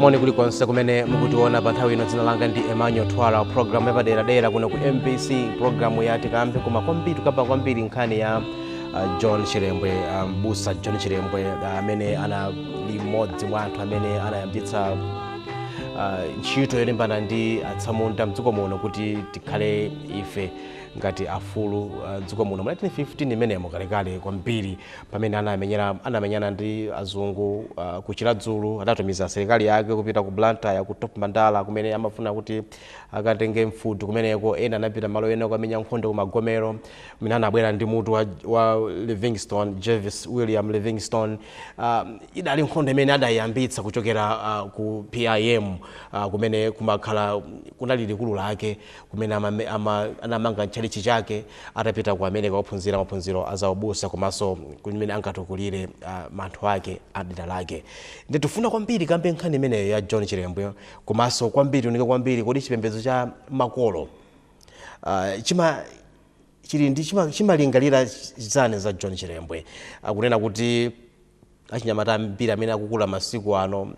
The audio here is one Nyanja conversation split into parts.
moni kulikonse kumene mukutiona pa nthawi ino dzina langa ndi emmanuel twala programu yapaderadera kuno ku mbc programu ya tikambe koma kwambiri tikamba kwambiri nkhani ya uh, john chilembwe uh, mbusa john chilembwe uh, amene anali mmodzi mwa anthu amene anayambitsa uh, ntchito yolimbana ndi atsamunda mdziko muno kuti tikhale ife ngati afulu uh, mdziko muno mu 1915 imeneyo kalekale kwambiri pamene anamenyera anamenyana ndi azungu uh, ku chiladzulu adatumiza asilikali ake kupita ku blantyre ku top mandala kumene amafuna kuti akatenge mfuti kumeneko ena anapita mmalo ena kukamenya nkhondo ku magomero kumene anabwera ndi mutu wa, wa livingstone jervis william livingstone uh, idali nkhondo imene adayiyambitsa kuchokera uh, ku pim uh, kumene kumakhala kunali likulu lake kumene amame, ama, anamanga ntchalitchi chake atapita ku America kukaphunzira maphunziro a zaubusa komanso mmene angatukulire uh, anthu ake a mdera lake. Nde tikufuna kwambiri tikambe nkhani imeneyo ya John Chilembwe komanso kwambiri tiunike kwambiri kodi chipembedzo cha makolo uh, chima chili ndi chima- chimalingalira zani za John Chilembwe akunena kuti achinyamata ambiri amene akukula masiku ano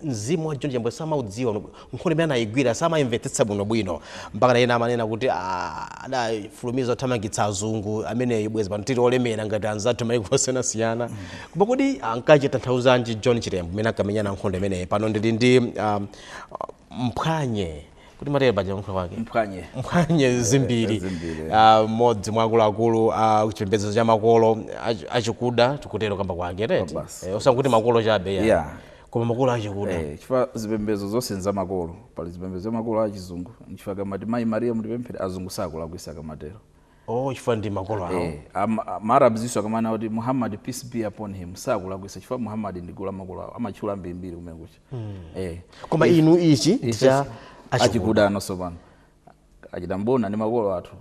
mzimu wa John Chilembwe samaudziwa bwino. nkhondo imene anayigwira samayimvetsetsa bwinobwino mpaka na ena amanena kuti "Ah, adafulumiza othamangitsa azungu amene ija bwezi pano tili olemera ngati anzathu mayiko osiyanasiyana koma kodi nkumatanthauzanji John Chilembwe mmene ankamenyana nkhondo imeneyi pano ndili ndi um, mphwanye kodi timatero paja kuyankhula kwake mphwanye mphwanye eh, zimbiri zimbiri. Ah, mmodzi mwa akuluakulu a chipembedzo cha makolo achi- achikuda tikutero kakambidwe kake tete Basi. Eh, osangoti makolo chabe ya. Yeah. koma makolo achikuda Eh, chifukwa zipembedzo zonse nza makolo pali zipembedzo za makolo achizungu nchifukwa akamati mayi mariya mutipempherere azungu sakulakwitsa akamatero oh chifukwa ndi makolo awo Eh, am- a- ma arabs iwonso akamanena kuti muhammad peace be upon him sakulakwitsa chifukwa muhammad ndi kholo la makolo awo amatchula ambirimbiri kumene kucha eh koma inu ichi ndi ife cha achikuda achikuda ndiyenso pano achina mbona ndi makolo athu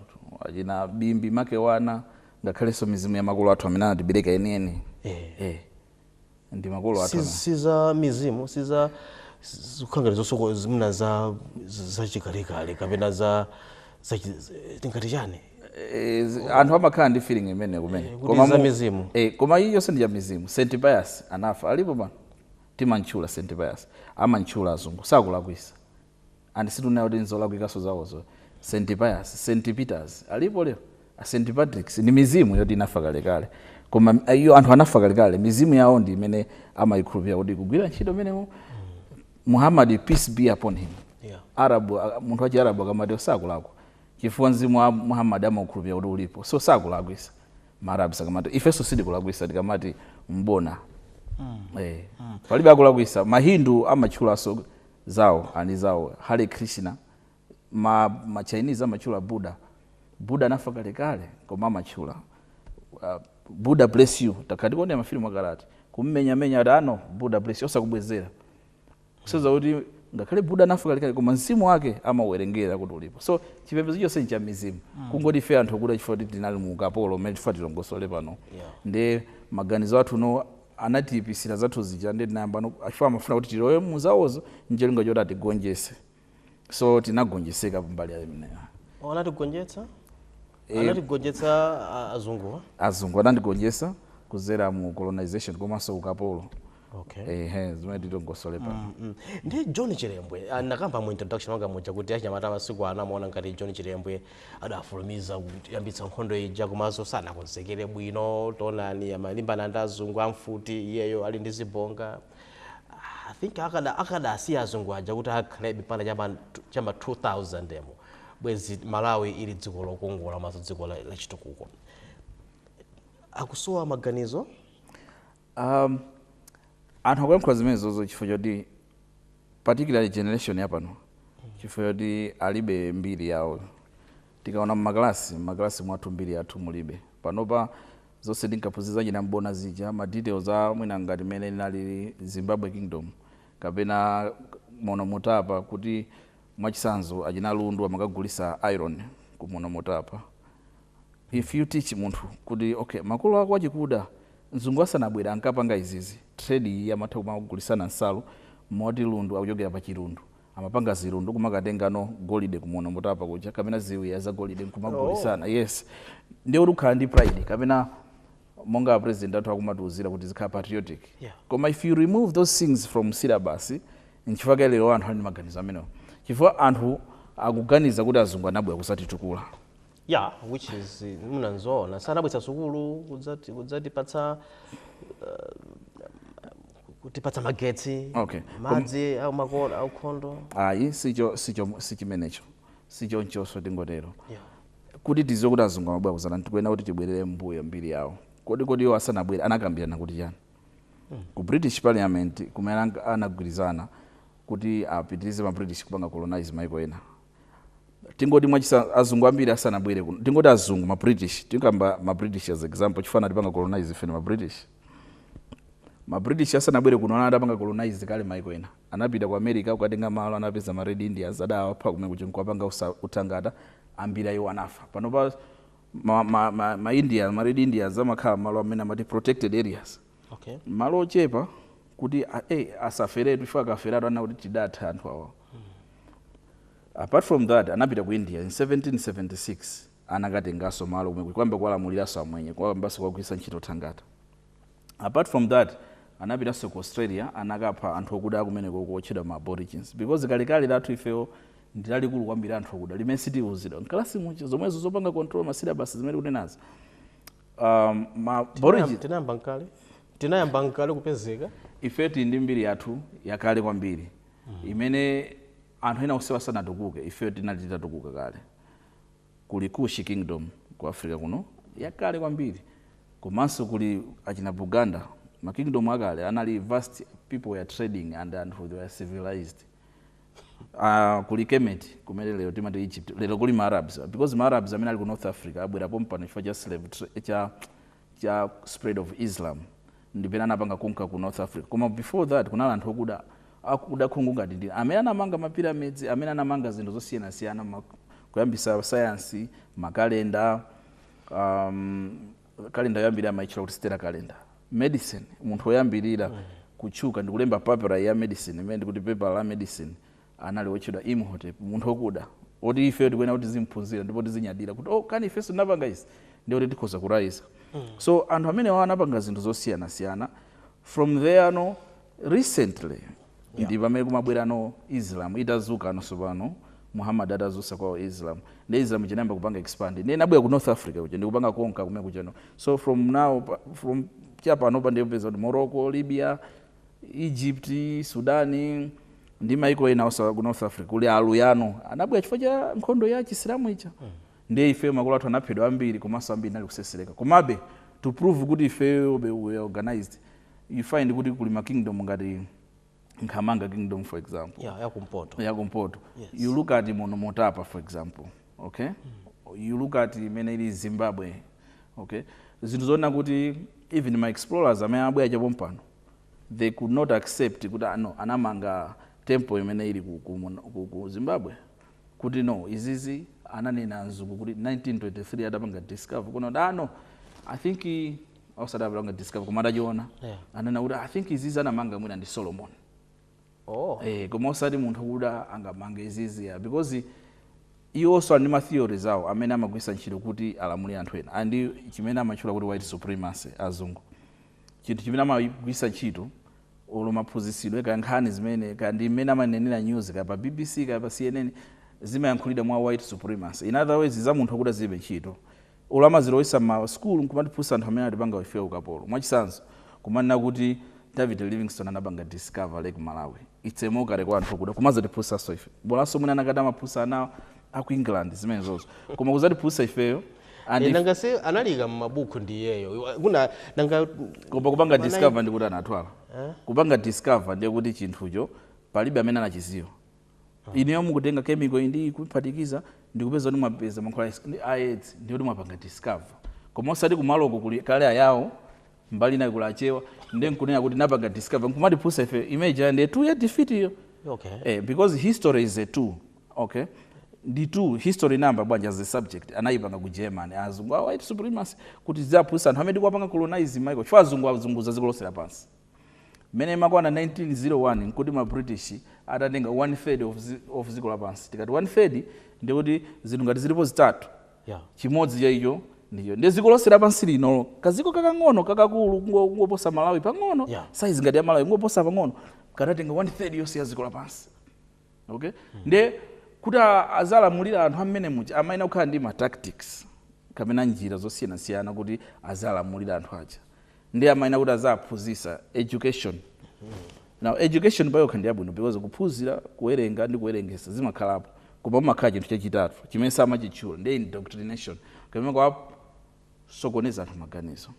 achina bimbi makewana ngakhalenso mizimu ya makolo athu amene anatibereka enieni Eh. eh ndi makolo athu ana si za mizimu si za zikukhala zosoko zimuna za zachikalekale kapena za tingati chani Eh, anthu amakhala ndi feeling imene kumene eh, koma za mizimu eh, koma iyi yonse ndi ya mizimu St Pius anafa alipo pano timamtchula St Pius amamtchula azungu sakulakwitsa and sitikunena zoti nzolakwikanso zawozo, St Pius, St Peters alipo lero? St Patricks ndi mizimu yoti inafa kalekale koma iwo anthu anafa kalekale mizimu yawo ndi imene amaikhulupirira kuti ikugwira ntchito menemo Muhammad peace be upon him Yeah. arabu a- munthu wachiarabu akamati sakulakwa chifukwa mzimu wa muhammad amaukhulupirira kuti ulipo so sakulakwisa maarabu akamati ifenso sitikulakwisa tikamati M'bona Eh. palibe akulakwisa mahindu amatchulanso Zawo ali ndi zawo. Hare Krishna. Ma ma Chinese amatchula Buddha. Buddha anafa kalekale koma amatchula. Buddha bless you. Takhala tikuonera ma filimu akale ati. Kumumenya menya ati ah no Buddha bless you osakubwezera. Kusonyeza kuti ngakhale Buddha anafa kalekale koma mzimu wake amauwerengera kuti ulipo. So chipembedzo chonse ndi cha mizimu. Kungoti ife anthu okuda chifukwa kuti tinali mu ukapolo umene tifuna tilongosole pano. Ndiye maganizo athu no anatiipitsira zathu zija ndiye tinayambano chifukwa amafuna kuti tilowe muzawozo ncholinga choti atigonjetse so tinagonjetseka pambali imeneyo anatigonjetsa Eh. anatigonjetsa a- azunguwa azungu anatigonjetsa kudzera mu colonization komanso ukapolo okay ehe zimene tilongosole pano Mm. ndi john chilembwe ah, nakamba mu introduction wanga muja kuti achinyamata amasiku ano amaona ngati john chilembwe adafulumiza kuyambitsa nkhondo ija komanso sanakonzekere bwino taonani amalimbana ndi azungu amfuti iyeyo ali ndi zibonga I think akada akadasiya azungu aja kuti akhalebe mpaka cha m'ma cha m'ma 2000 umo bwezi malawi ili dziko lokongola komanso dziko la- lachitukuko akusowa maganizo Anthu akuyankhula zimenezozo chifukwa choti particularly generation yapano chifukwa choti alibe mbiri yawo. Tikaona m'makalasi, m'makalasi mwathu mbiri yathu mulibe. Panopa zonse tinkaphunzira za achina M'bona zija, ma details a mwina ngati mmene inalili Zimbabwe Kingdom kapena Monomutapa kuti mwachitsanzo achina Lundu amakagulitsa iron ku Monomutapa, If you teach munthu kuti okay makolo ako achikuda mzungu asanabwere ankapanga izizi, trade iyi amatha kumagulitsana nsalu moti Lundu akuchokera pa chilundu amapanga zilundu kumakatenganso golide ku Monomutapa kuja kapena ziwiya za golide nkumagulitsana yes ndiye kuti ukhala ndi pride kapena monga a president athu akumatiuzira kuti tizikhala patriotic yeah. koma if you remove those things from syllabus nchifukwa chake lero anthu ali ndi maganizo amenewo chifukwa anthu akuganiza kuti azungu anabwera kudzatitukula ya which is eh, mwina nzoona sanabweretsa sukulu kudzati- kudzatipatsa eh, kutipatsa magetsi Okay. madzi au makolo a nkhondo ayi sicho sicho sichimenecho sichonchoso tingotero Yeah. kuti tidziwe kuti azungu amabwera kudzatani tikuyenera kuti tibwerere mbuyo mbiri yawo kodi kodi iwo asanabwere anakambirana kuti chani ku british parliament kumene anag- anagwirizana kuti apitirize ma british kupanga colonize maiko ena tingoti mwachitsanzo azungu ambiri asanabwere kuno tingoti azungu ma british tikamba ma british as example chifukwa anatipanga colonize ife ma british ma british asanabwere kuno ana adapanga colonize kale maiko ena anapita ku america kukatenga malo anapeza ma red indians adawapha kumene kuti nkuwapanga usa- utangata ambiri ayiwo anafa panopa ma, ma, ma, ma indians ma red indians amakhala malo amene amati protected areas Okay. malo ochepa kuti a- eh, asaferetu chifukwa akaferatu anena kuti tidatha anthu awa apart from that anapita ku india in 1776 anakatenganso malo komwe kuyamba kuwalamuliranso amwenye kuyambanso kuwagwiritsa ntchito thangata apart from that anapitanso ku australia anakapha anthu okuda akumeneko otchedwa ma aborigines because kalekale lathu ifeyo ndi lalikulu kwambiri anthu okuda limene sitiuzidwa mkalasi muja zomwezo zopanga control masilabasi zimene tikunenazo um, ma Tinayam- tinayamba nkale tinayamba nkale kupezeka ife tili ndi mbiri yathu yakale kwambiri imene anthu ena onse asanatukuke ife tinali titatukuka kale kuli kushi kingdom ku africa kuno yakale kwambiri komanso kuli achina buganda ma kingdom akale anali vast people were trading and anthu they were civilized Aaa kuli Kemet kumene lero timati Egypt lero kuli ma Arabs because ma Arabs amene ali ku North Africa abwera pompano chifukwa cha slave tra cha cha spread of Islam ndi pamene anapanga conquer ku North Africa koma before that kunali anthu okuda akuda khungu ngati ndi amene anamanga ma pyramids amene anamanga zinthu zosiyanasiyana ma kuyambisa science ma calendar aam Calendar yoyambirira amaitchula kuti Stellar Calendar. Medicine, munthu woyambirira kutchuka ndi kulemba papyri ya medicine, imene ndi kuti pepala la medicine, anali wotchedwa Imhotep, munthu wokuda, woti ifeyo tikuyenera kuti tizim'phunzira ndipo tizinyadira kuti, oh, kani ifenso tinapanga izi? Ndiye kuti tikhoza kuraiza. So, anthu amenewa anapanga zinthu zosiyanasiyana. From there, no, Recently ndi pamene kumabwerano Islam itadzukano tsopano Muhammad atadzutsa kwao Islam nde Islam ija inayamba kupanga expand nde inabwera ku North Africa kuja ndikupanga conquer kumene kujano so from now pa, from cha panopa nde upeza kuti Morocco, Libya, Egypt, Sudan ndi maiko ena onse a ku North Africa kuli aluya anabwera chifukwa cha nkhondo ya chisilamu ija nde ife makolo athu anaphedwa ambiri komanso ambiri anali kusesereka komabe to prove kuti ifeyobe we are organized you find kuti kuli ma kingdom ngati Nkhamanga kingdom for example. Yeah, ya kumpoto. Ya kumpoto. Yes. You look at Mono Motapa for example. Okay? Mm. You look at imene ili Zimbabwe. Okay? Zinthu zoona kuti even ma explorers amene ankabwera cha pompano they could not accept kuti ah, no anamanga temple imene ili ku, ku, ku, ku Zimbabwe kuti no izizi ananena mzungu kuti 1923 atapanga discover kuno dano ah, i think osati atapanga discover koma atachiona Yeah. anena kuti i think izizi anamanga mwina ndi solomon oh eh, koma osati munthu okuda angamange izizi ya because iwonso ali ndi ma theories awo amene amagwiritsa ntchito kuti alamulire anthu ena ndi chimene amatchula kuti white supremacy azungu chinthu chimene amagwiritsa ntchito olo maphunzitsidwe ka nkhani zimene ka ndi mmene amanenera news ka pa bbc ka pa cnn zimayankhulidwa mwa white supremacy in other words za munthu okuda zilibe ntchito Olo amazilowesa mma school nkumatiphunzitsa anthu amene anatipanga ifeyo ukapolo. Mwachisanzo, kumanena kuti David Livingstone anapanga discover Lake Malawi. It's a mockery kwa anthu okuda kumazatiphunzitsanso ife. Bolaso mwina anakati amaphunzitsa ana a ku England zimenezozo. Koma kuzatiphunzitsa ifeyo and Eh, if nanga se analiika mmabuku ndi iyeyo Iwa- kuna nanga koma kupanga Manai- discover ndikuti anatwala. Kupanga discover ndiye kuti chinthucho palibe amene anachiziwa. Ah. Inuyo mukutenga chemical ndi kuphatikiza ndikupeza kuti mwapeza mankhwala a AIDS ndiye kuti mwapanga discover. Koma osati kumaloko kuli kale ayawo mbali inayi kuli achewa nde nkunena kuti napanga discover nkumatiphunzitsa ife image ya ndi tool ya defeat iyo. Okay. Eh, because history is a tool. Okay. ndi tool history chifukwa bwanji as a subject anayipanga ku germany azungu a white supremacy kuti tiziwaphunzitsa anthu amene tikuwapanga colonize maiko chifukwa azungu azungulira ziko lonse lapansi Mmene imakwana 1901 nkuti ma British atatenga one third of of dziko lapansi. Tikati one third ndiye kuti zinthu ngati zilipo zitatu, Yeah. chimodzi cha icho ndiye dziko lonse lapansi lino kadziko kakang'ono kakakulu kungo- kungoposa Malawi pang'ono Yeah. size ngati ya Malawi kungoposa pang'ono kadatenga one third yonse ya dziko lapansi. okay mm. nde kuti aziwalamulira anthu amene muja amayenera kukhala ndi ma tactics kapena njira zosiyanasiyana kuti aziwalamulira anthu aja nde amayenera kuti aziwaphunzisa education mm. now education payokha ndi yabwino because kuphunzira kuwerenga ndi kuwerengesa zimakhalapo koma mumakhala chinthu chachitatu chimene samachitchula ndi indoctrination kapena kuwasokoneza anthu maganizo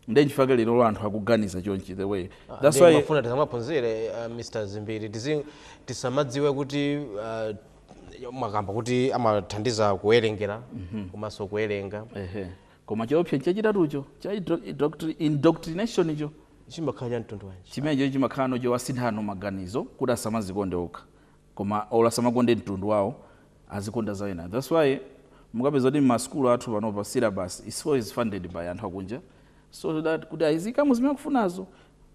nde nchifake lerolo anthu akuganiza chonchi the way ah, that's why amafuna tisamaphunzire uh, ah, Mr Zimbiri tizi tisamadziwe kuti uh, mwakamba kuti amathandiza kuwerengera mm -hmm. komanso kuwerenga ehe koma chiopsa chachitatucho cha indoctrination icho chimakhala cha mtundu wanji chimenecho chimakhala nocho kuwasinthano maganizo kuti asamazikonde okha koma or asamakonde mtundu wawo azikonda za ena that's why mukapeza kuti ma school athu panopa syllabus is always funded by anthu akunja so that kuti aziikamo zimene akufunazo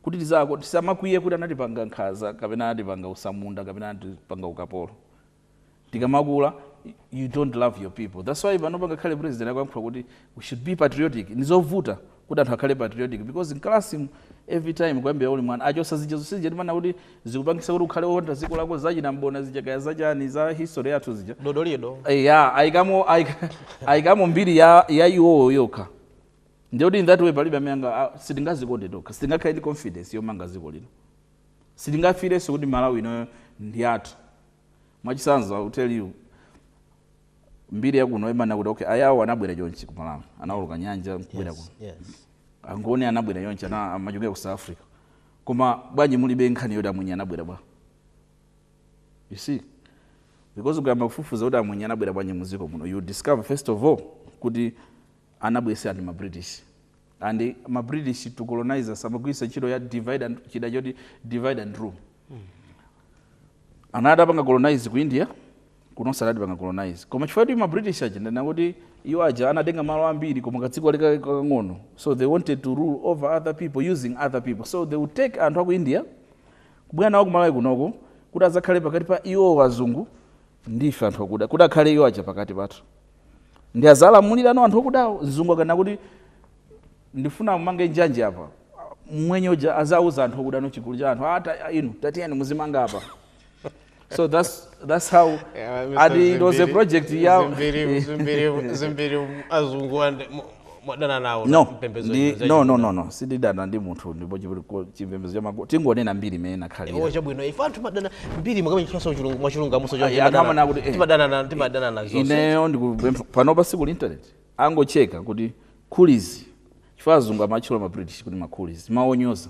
kuti tisamakwiye kuti anatipanga nkhaza kapena anatipanga utsamunda kapena anatipanga ukapolo tikamakula you don't love your people that's why panopa ngakhale president akuyankhula kuti we should be patriotic nizovuta kuti anthu akhale patriotic because mkalasimu every time kuyambira uli mwana achosa zija zonse zija zimanena kuti zikupangisa kuti ukhale wokonda dziko lako zachina mbona zija kaya zachani za history yathu zija Dodolido Eh, ya ayikamo ayika- ayikamo mbiri ya ya iwowo yokha ndiye kuti in that way palibe amene anga ah, sitingazikonde tokha sitingakhale ndi confidence yomanga dziko lino sitingafirenso kuti malawi ino ndi yathu mwachisanzo I will tell you mbiri yakuno imanena kuti okay Ayao anabwera chonchi ku malawi anawoloka nyanja nkubwera yes, kuno yes. angoni anabwera chonchi ana- amachokera ku south africa koma bwanji mulibe nkhani yoti amwenye anabwera bwa you see because ukayamba kufufuza kuti amwenye anabwera bwanji muziko muno you discover first of all kuti anabweseradi ma British and ma British to colonize us amagwiritsa ntchito ya divide and chida choti divide and rule anali atapanga colonize ku India kunonso anali atapanga colonize koma chifukwa kuti ma British aja ndinati kuti iwo aja anatenga malo ambiri koma kadziko kali ka- kakang'ono so they wanted to rule over other people using other people so they would take anthu aku India kubwera nawo ku Malawi kunoko kuti azakhale pakati pa iwo azungu ndife anthu akuda kuti akhale iwo aja pakati pathu nde azalamulirano anthu okudawo mzungu akanena kuti ndifuna mumange njanji apa mmwenye uja azauza anthu okudano chigulu cha anthu ata inu tatiyeni muzimanga apa so that's, that's how Yeah, Mr. ati it was a Zimbiri- project ya Zimbiri- Zimbiri- Zimbiri azungu ande- mu- mwadana nawo ndi mpembedzo ndi zimene no no zachita. no no sindidana ndi munthu ndipo chipe- ko- chipembedzo cha makolo tingonena mbiri mmene inakhalira iwo chabwino ife anthu mumadana ndi mbiri mukamene chifanso chulungu mwachulungu amuso Ayi, anthu amene akuti, eh. timadana na- timadana na zonse ineyo ndikupempha panopa ali ku internet angocheka kuti coolies chifukwa azungu amatchula ma british kuti ma coolies mowanyoza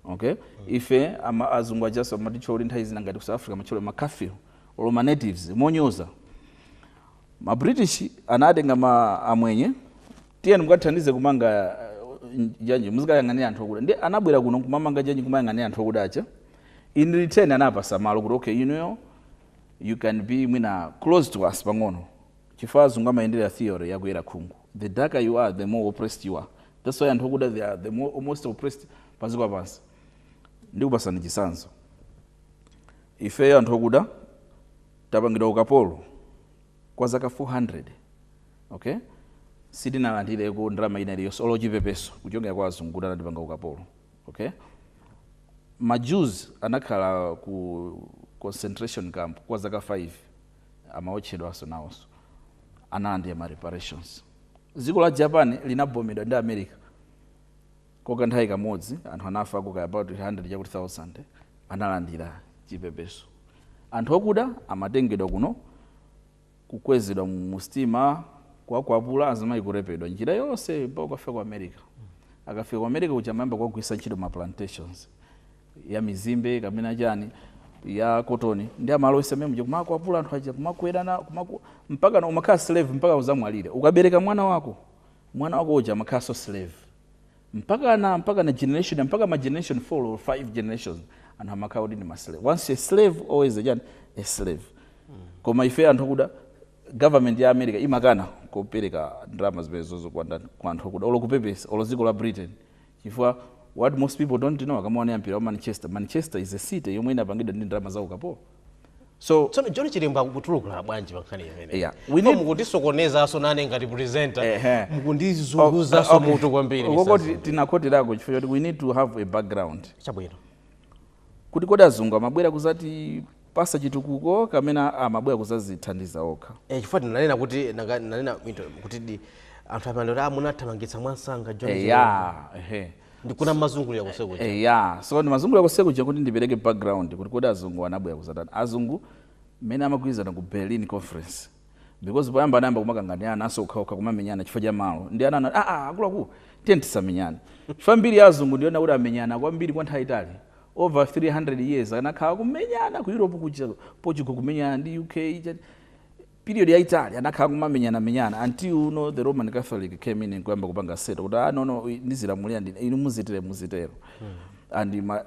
okay ife ama azungu ajaso amatitchula kuti nthawi zina ngati ku south africa amatchula ma kafir olo ma natives monyoza Ma British anatenga amwenye, tiyeni mukathandize kumanga eh, njanji, muzikayang'anira anthu okuda. Nde anabwera kuno kumamanga njanji, kumayang'anira anthu okuda aja. In return anawapasa malo kuti okay, you know, you can be mwina close to us pang'ono chifukwa azungu amayendera theory yakuyera khungu the darker you are the more oppressed you are that's why anthu okuda they are the more, most oppressed pansi kwa pansi ndikupasani chisanzo ifeyo anthu okuda tapangidwa ukapolo kwa zaka 400 ok sitinalandireko ndalama ina iliyonse olo chipepeso kuchokera kwa azungu kuti anatipanga ukapolo ok ma Jews anakhala ku concentration camp kwa zaka 5 amaotchedwanso nawonso analandira ma reparations dziko la Japan linabombedwa ndi America Kwa kanthawi kamodzi anthu anafako kaya about hundred chakuti thousand analandira chipepeso. Anthu okuda amatengedwa kuno kukwezedwa mu sitima kuwakwapula azimayi kurepedwa njira yonse mpaka kukafika ku America. Akafika ku America kuja amayamba kuwagwiritsa ntchito m'ma plantations ya mizimbe kapena chani ya kotoni ndi amalowesa mmene muja kumawakwapula anthu aja kumakwerana kumaku, mpaka umakhala slave mpaka uzamwalire. Ukabereka mwana wako mwana wako uja amakhalanso slave mpakana mpakana generation ya mpaka ma generation 4 or 5 generations anthu amakhala kuti ndi ma slave once a slave always a chani a slave koma ife anthu akuda government ya america imakana kupereka ndalama zimenezozo kwa anthu akuda olo kupepesa olo dziko la britain Chifukwa what most people don't know akamaonera mpira wa Manchester, Manchester is a city yomwe inapangidwa ndi ndalama za ukapolo. So Tsono John Chilembwe akutulukira bwanji pa nkhani imeneyi? Yeah, we Ndipo need- mukundisokonezaso nane ngati presenter. Ehe. Mukundizunguzaso mutu kwambiri. Mutu ukungoti zunguli. tinakhoterako chifukwa choti we need to have a background. Chabwino. kuti kodi azungu amabwera kuzatipasa chitukuko kapena amabwera kuzazithandiza okha Eh, chifukwa tinanena kuti nanga- nanena into- kuti di anthu amene kuti munathamangitsa mwamsanga John Chilembwe. eya ehe ndikuona mazungulira kuseriku eya so ndimazungulira kuseri kuja kuti ndipereke background kuti kodi azungu anabwera kuzatani azungu mmene amagwirizana ku berlin conference because poyamba anayamba kumakanganirananso okhaokha kumamenyana chifukwa cha malo ndiye anati aa ah, ah, akuluakulu tiye tisamenyane chifukwa mbiri ya azungu ndi yonena kuti amenyana kwambiri kwa nthawi yaitali over 300 years anakhala kumenyana ku europe kuja portugal kumenyana ndi uk period yaitali anakhala kumamenyana menyana until you know, the roman catholic came in nkuyamba kupanga settle kuti ah, no no ndizilamulira ndine inu muzitero muzitero hmm. and ma,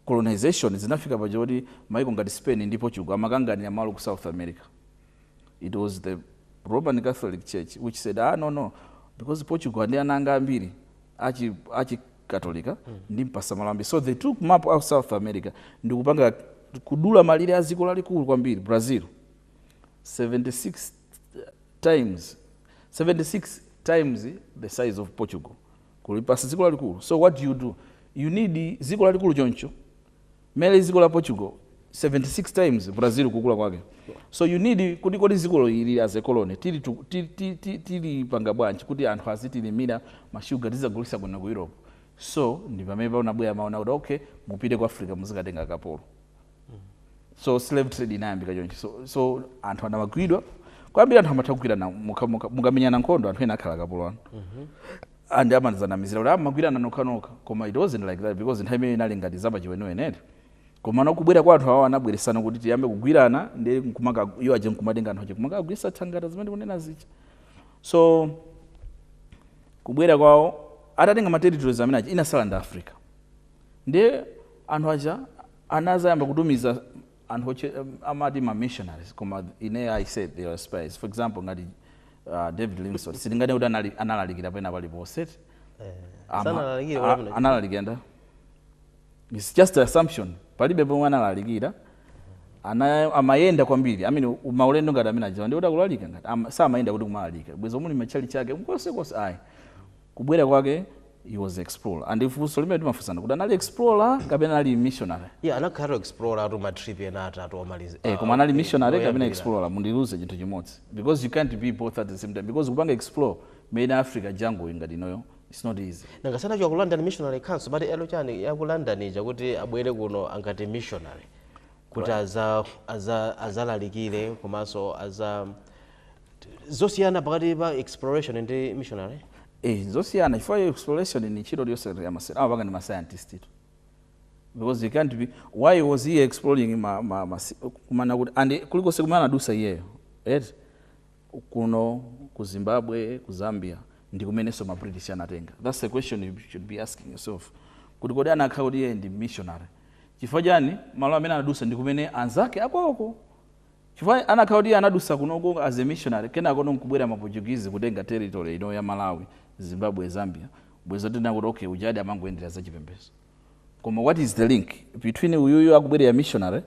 colonization zinafika paja poti maiko ngati Spain ndi Portugal amakanganira malo ku South America? It was the Roman Catholic Church which said, ah, no, no, because Portugal ndi ana anga ambiri achi, achi katolika ndimpasa malo ambiri. So they took mapu a South America ndikupanga kudula malire a dziko lalikulu kwambiri Brazil 76 times 76 times the size of Portugal. kulipatsa dziko lalikulu so what do you do you need dziko lalikulu choncho mmene lilili dziko la portugal 76 times brazil kukula kwake so you need kuti kodi dzikolo ili as a colony tili tu- ti- ti- ti- tilipanga bwanji kuti anthu azitilimira mashuga tizagulisa kuno ku europe so ndi pamene panabwera maona kuti okay mupite ku africa muzikatenga kapolo so slave trade inayambika choncho so, so anthu anamagwidwa kwambiri anthu amatha kugwirana muka- muka- mukamenyana nkhondo anthu ena akhala akapolo anu and amazanamizira kuti amagwirana nokhanokha koma it wasn't like that because nthawi imene inali ngati zapachiweniwenere koma nakubwera kwa anthu awo anabweretsa kuti tiyambe kugwirana ndi nkumakha iwo aja nkumatenga anthu aja kumakagwirisa thangata zimene ndikunena zija so kubwera kwawo atatenga ma territories amene aja inasala ndi africa ndiye anthu aja anazayamba kutumiza anthu aja amati ma missionaries koma ineyo i said they are spies for example ngati uh, david livingstone sitinganene kuti anali- analalikira pena paliponse Ama- Sanalalikire a- paliponse. analalikira ndi its just an assumption palibe pomwe analalikira ana amayenda kwambiri amene umaulendo ngati amene ajawa ndikuti akulalika ngati ama- samayenda kuti kumalalika bwezi muli matchalitchi ake konsekonse ayi Kubwera kwake he was explorer and funso limene ndimafunsa ndikuti anali explorer kapena anali missionary? Yeah, anakhala explorer atu ma trip ena atatu omaliza. Eh, koma anali missionary kapena explorer mundiuze chinthu chimodzi because you can't be both at the same time because kupanga explore mu Africa jungle ngati inoyo it's not easy. Nanga sanachoke ku London Missionary Council but eh yo chani ya ku London ija kuti abwere kuno ngati missionary kuti aza aza azalalikire komanso aza zosiyana pakati pa exploration ndi missionary eh zosiyana chifukwa ya exploration ndi ntchito yonse ya masela awa pakati pa mascientist tu because you can't be why was he exploring ma, ma, ma kumana kuti and kulikonse kumene anadusa iyeyo right kuno ku zimbabwe ku zambia ndi kumenenso ma british anatenga that's the question you should be asking yourself kuti kodi anakhala kuti iye ndi missionary chifukwa chani malo amene anadusa ndi kumene anzake akwawoko Chifukwa akanakhala kuti iye anadusa kunoko as a missionary kenakono nkubwera ma Portuguese kutenga territory ino ya Malawi, Zimbabwe, Zambia, bwezi ndikunena kuti okay ujadi amangoyendera za chipembezo. Koma what is the link between uyuyu akubwera as a missionary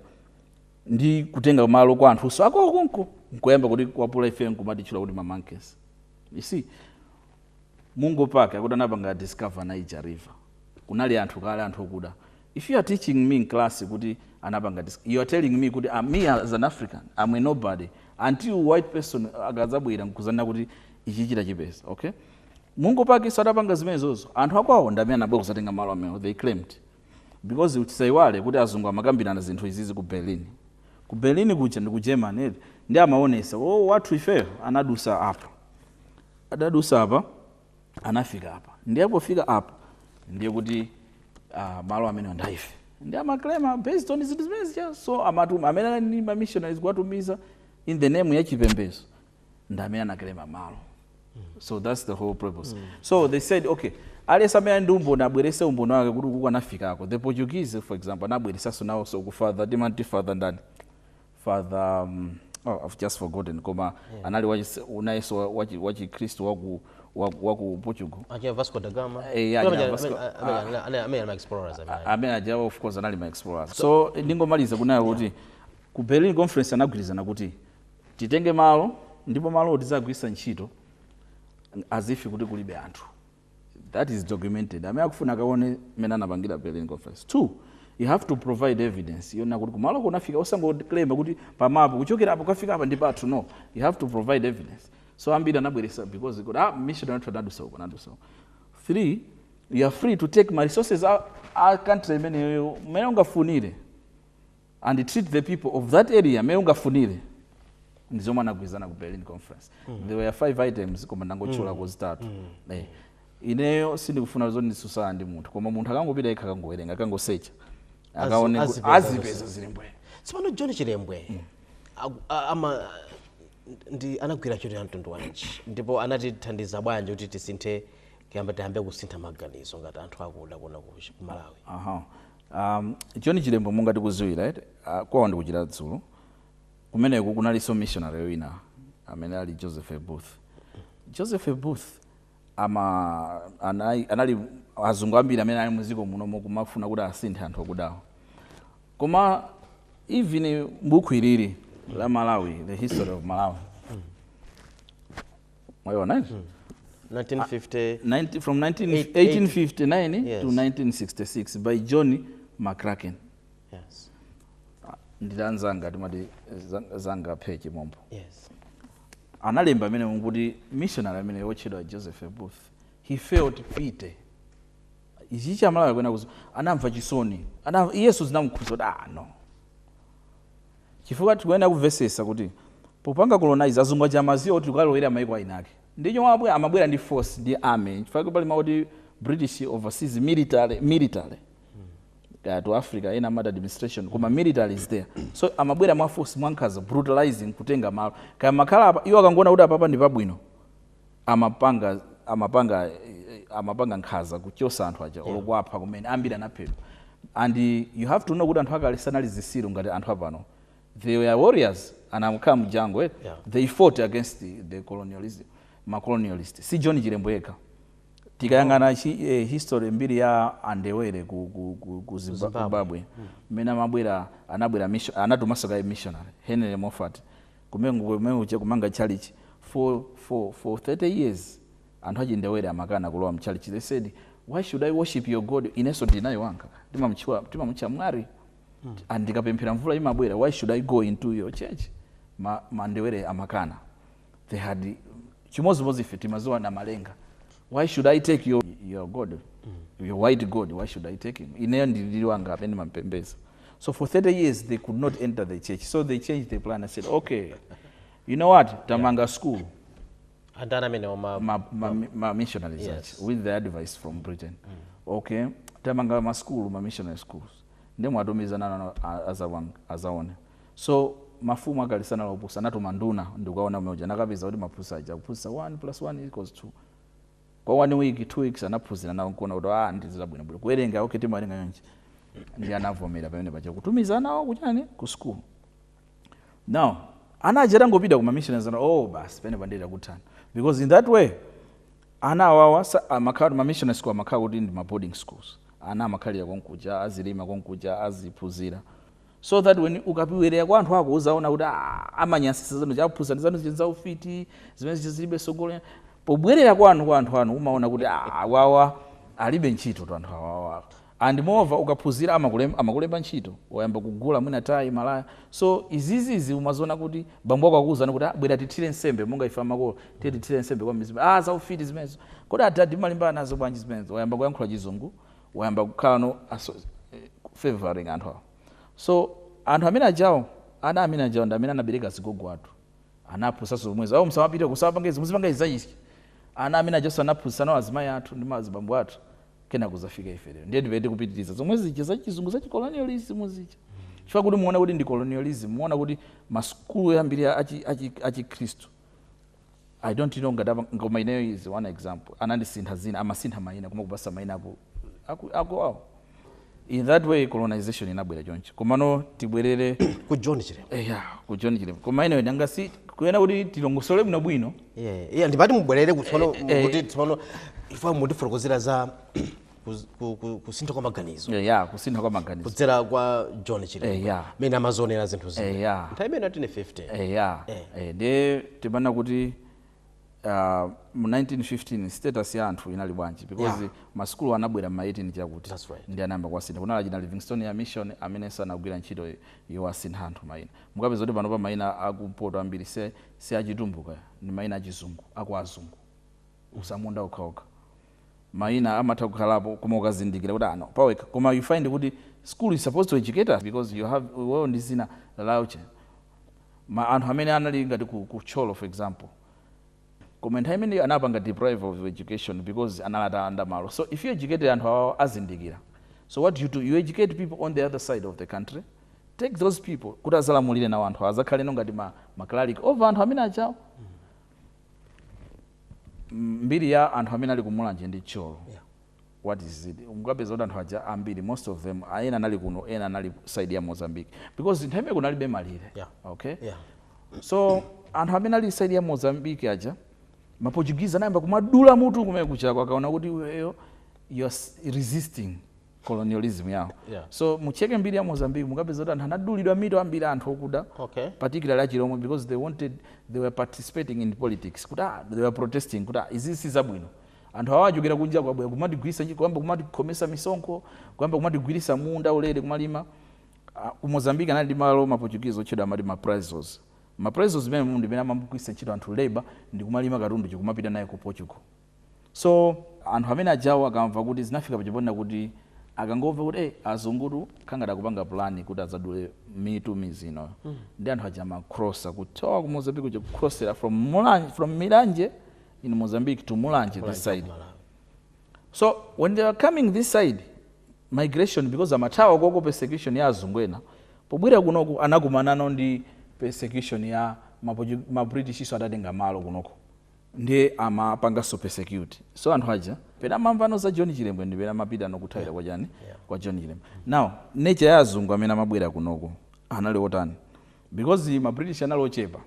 ndi kutenga malo kwa anthuso akwawo konko nkoyamba kutikwapula ifeyo nkumatitchula kuti ma monkeys. You see, Mungo Park akuti anapanga discover Niger river. kunali anthu kale anthu okuda if you are teaching me in class kuti anapanga you are telling me kuti uh, me as an african am a nobody until white person akadzabwera nkuzanena kuti ichi chitachipeza okay mungo park so adapanga zimenezozo anthu akwawo ndamene anabwera kuzatenga malo amene they claimed because tisayiwale kuti azungu amakambirana zinthu izi ku berlin ku berlin kuja ndi ku germany ndiye amaonesa oh, wathu ifeyo anadusa apa adadusa apa anafika apa ndiye pofika apa ndiye kuti uh, malo amene anthufe ndi amaklema based on zinthu zimene zija so anthu amene anali ndi mamissionaries kuwatumiza in the name ya chipembezo ndi amene anaklema malo so that's the whole purpose so they said okay aliyense amene ali ndi umboni abwerese umboni wake kuti ukuku anafikako the portuguese for example anabweresanso nawonso kuti father timati father ndani father um, oh, I've just forgotten koma yeah. anali uja nayenso wachikhristu waku waku Portugal aja Vasco da Gama eh, yeah, yeah, Vasco amene ah. ma explorers amene aja of course anali ma explorers so, so ndingomaliza kunena kuti yeah. ku Berlin conference anagwirizana kuti titenge malo ndipo malo tizagwirisa ntchito as if kuti kulibe anthu that is documented amene akufuna akaone mmene anapangira Berlin conference two you have to provide evidence yonena kuti kumaloko unafika osangoclaima kuti pamapo kuchokera apo kukafika apa ndi pathu no you have to provide evidence so ambiri anabweresa because kuti ah missionary athu anadusa uko anadusa uko three you are free to take ma resources a, a country imeneyo mmene ungafunire and treat the people of that area mmene ungafunire ndi zomwe anagwirizana ku berlin conference there were five items koma ndangotchulako zitatu Eh, ineyo sindikufuna zoti ndisusana ndi munthu koma munthu akangopita yekha akangowerenga akangosearcha akaone ku- azipeza azipeza zilembedwe tsopano john chilembwe aku- a- ama ndi anagwira ntchito ya mtundu wanji ndipo anatithandiza bwanji kuti tisinthe kuyamba tiyambe kusintha maganizo ngati anthu akuda kuno ku ku malawi aha Um, John Chilembwe monga tikuziwira eti uh, kwawo ndi ku Chiradzulu kumeneko kunalinso missionary wina amene anali Joseph Booth. Joseph Booth ama anali, anali azungu ambiri amene anali muziko muno mokumafuna kuti asinthe anthu akudawa. Koma even buku ilili la Malawi, the history of Malawi. mwayiona eh? 1950 90 from 19, Eight- 1859 Yes. to 1966 by john mccracken yes ndiye anzanga timati eh, zang- zanga Phekhe Mombo yes analemba amene nkuti missionary amene wotchedwa joseph booth he felt pity mChichewa kunena kuti anamva chisoni Ana- yes zinamukhudza kuti ah no Chifukwa tikuyenera kuvesesa kuti popanga colonize azungu aja amaziwa kuti tikukalowelera maiko a eniake n'chifukwa amabwera ndi force ndi army chifukwa pali mau oti British overseas military military kaya to Africa ena amati administration koma military is there so amabwera mwa force mwankhanza brutalizing kutenga malo kaya mumakhala apa iwo akangoona kuti apapa ndipabwino amapanga amapanga amapanga nkhanza kuchosa anthu aja olo kuwapha kumene ambiri anaphedwa and you have to know kuti anthu akale sanali zitsiru ngati anthu apano they were warriors ankakhala mu jungle eti Yeah. they fought against the, the colonialism ma colonialist si John Chilembwe yekha tikayang'ana chi- eh, history mbiri ya andebele ku, ku, ku, ku Zimba- Zimbabwe. zimbabwe mmene amabwera anabwera mission- anatumanso kaye missionary henry moffat Kumanga komwe uja kumanga tchalitchi for for for 30 years anthu achindebele amakana kulowa mtchalitchi they said why should i worship your god ineso ndili naye wanga timamutchula timamutcha mwari and ndikapemphera mvula imabwera why should i go into your church ma, mandebele amakana they had chimodzimodzi ife timadziwa namalenga why should i take your, your god your white god why should i take him ineyo ndili ndi wanga amene ndimampembedza so for 30 years they could not enter the church so they changed the plan and said okay you know what tamanga yeah. school ana amene ma, ma, ma, ma missionaries yes. with the advice from britain mm. okay tamanga ma school ma missionary schools nde muwatumize ana azaone so mafumu akale sanali opusa anatuma nduna ndi kukaona m'mene muja nakapeza kuti amaphunzitsa aja kuphunzitsa 1 plus 1 equals 2 kwa 1 week 2 weeks anaphunzira nawo nkuona kuti aah ndi zabwino bwino kuwerenga ok timawerenga chonchi ndiye anavomera pamene paja kutumiza ana awo kuchani ku school now ana aja atangopita kuma missionaries ndiye no basi pamenepa ndiye takuthana because in that way ana awawa sa- amakhala ma missionary school amakhala kuti ndi ma boarding schools ana amakhalira konkuja azilima konkuja aziphunzira so that when ukabwerera kwa anthu ako uzaona kuti ah, amanyansisa zanu zachikunja zanu zija za ufiti zimene zija zilibe tsogolo pobwerera kwanu kwa anthu anu umaona kuti ah, awawa alibe ntchito ndi anthu awawa and moreover ukaphunzira amakulemba, amakulemba ntchito wayamba kugula mwina tayi malaya so izizizi umaziona kuti bambo wako akukuuza kuti "Ah, bwera tithire nsembe monga ife amakolo tiye tithire nsembe kwa mizimu ah za ufiti zimenezo kodi adadi mumalimbana nazo bwanji zimenezo wayamba kuyankhula chizungu wayamba kukhala not favoring anthu awo so anthu amene ajawo ana amene ajawo ndi amene anabereka azigogo athu anaphunzitsanso zomwezo awo musamapite kusapange izi muzipanga izi za ichi ana amene ajaso anaphunzitsa ana awo azimayi athu ndi mazibambo athu kenako kuzafika ife lero ndiye ndiye kupitiriza zomwe zija za chizungu za chicolonialism zija chifukwa kuti muona kuti ndi colonialism muona kuti masukulu ambiri achi- achi- achikhristu i don't know ngati apa- koma ineyo is one example anandisintha zina amasintha maina nkumakupatsa maina aku aku aku awo in that way colonization inabwera choncho komano tibwerere ku john chilembwe eya ku john chilembwe koma ineyo nanga si kunena kuti tilongosole bwino bwino Yeah, yeah, ndimati mubwerere kutsopano Eh, eh. kuti tsopano ife mutifotokozere za kusintha kwa maganizo eh, yeah, kusintha kwa maganizo kudzera kwa John Chilembwe eh, yeah. mene amazionera zinthu zina eh, yeah. nthawi imene atine 50 eh, yeah. eh. eh, ndiye timanena kuti uh, mu 1915 status ya anthu inali bwanji because yeah. masukulu anabwera ma 18 chakuti right. ndiye anayamba kuwasintha kunali achina Livingstonia mission amene anagwira ntchito yowasintha anthu maina mukapeza kuti panopa maina akumpoto ambiri si, si achitumbuka ni maina achizungu akuazungu atsamunda okhaokha maina amatha kukhalapo koma ukazindikira kuti ano pawekha koma you find kuti school is supposed to educate us because you have well ndi zina lauche ma anthu amene anali ngati ku, ku Thyolo for example koma nthawi imeneyo anapanga deprive of education because anali atalanda malo so if you educate anthu awawo azindikira so what you do you educate people on the other side of the country take those people kuti azalamulire nawo anthu azakhale no ngati ma, ma cleric over anthu amene achawo mbiri ya anthu amene ali ku mulanje ndi Thyolo yeah. what is it mukapeza kuti anthu aja ambiri most of them ena anali kuno ena anali side ya mozambique because nthawi imene kunalibe malire yeah. okay yeah. so anthu amene ali side ya mozambique aja maportuguese anayamba kumadula mutu kumene kuchako akaona kuti iweyo you're resisting colonialism yawo yeah. so mucheke mbiri ya mozambique mukapeza kuti anthu anadulidwa mitu ambiri anthu okuda okay. particularly achilomwe because they wanted they were participating in politics kuti ah, they were protesting kuti ah, izi si zabwino anthu awo achokera kunja kubwera kumatigwirisa ntchito kuyamba kumatikhomesa misonkho kuyamba kumatigwirisa munda ulere kumalima Ah, ku mozambique anali ndi malo maportuguese otchedwa amati maprazos maprazos imene munthu imene amagwirisa ntchito anthu labor ndi kumalima katundu n'kumapita naye ku portugal So. anthu amene ajawo akamva kuti zinafika paja ponena kuti akangomva kuti eh azungutu kukhala ngati akupanga plan kuti adzadule mitu mmidzi inoyi ndiye anthu aja amacrossa kuchoka ku Mozambique kuja kucrossera from Mulanje from Milanje in Mozambique to Mulanje this Mulanje wa ku side Malawi. so when they were coming this side migration because amathawa koko persecution ya azungu ena pobwera kunoko anakumanano ndi persecution ya mapoju- mabritishnso atatenga malo kunoko ndiye amawapanganso persecute so anthu aja pena amamvano za john chilembwe ndi pena amapita nkukathawira kwa chani kwa john chilembwe now nature ya azungu amene amabwera kunoko anali otani because ma british anali ochepa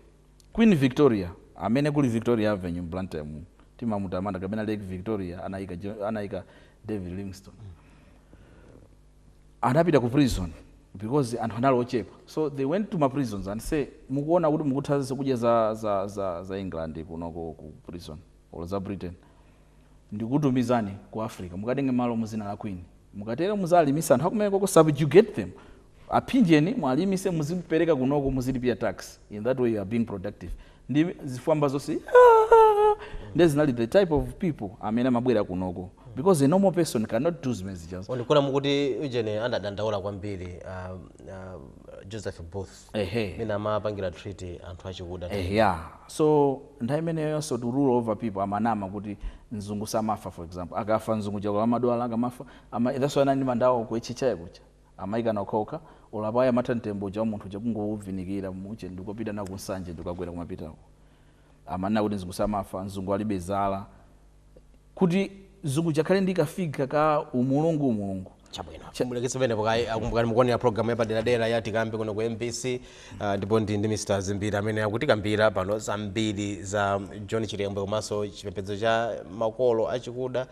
queen victoria amene kuli victoria avenue mu Blantyre muno timamutamanda kapena lake victoria anayika Jo- anayika david livingstone anapita ku prison because anthu anali ochepa so they went to ma prisons and say mukuona kuti mukutha zakudya za, za, za, za england kunoko ku prison or za britain ndikutumizani ku africa mukatenge malo muzina la queen mukatero muzalimisa anthu akumeneko subjugate them aphinjeni muwalimise muzipereka kunoko muzilipia tax in that way you are being productive ndi zifwamba zonse "Aaah!" nde zinali the type of people amene amabwera kunoko because a normal person cannot do zimene zija ndikuona mukuti ujeni anadandaula kwambiri uh, uh, joseph booth ehe mene amapangira treat anthu achikuda Eh, yeah so nthawi imeneyonso to rule over people amanama kuti mzungu samafa for example akafa mzungu chabe akamadwala akamafa ama, that's why ana ndi manda awo kuechichaye kucha Amaikana okhaokha, olo apo ayi amatha mtembo uja wa munthu uja kungouvinikira mu ujeni ndikukapita nawo ku Nsanje ndikukakwera kumapita uko. Amanena kuti mzungu samafa, mzungu alibe zala. Kuti mzungu uja akhale ndi ka figure ka umulungu umulungu. Chabwino. Cha. Muleketse pamenepo kaye. A, Kumbukani mukuonera program yapaderadera ya Tikambe kuno ku mbc. Uh, ndipo ndi ndi Mr. Zimbiri amene akutikambira pano zambiri za John Chilembwe komanso chipembedzo cha makolo achikuda.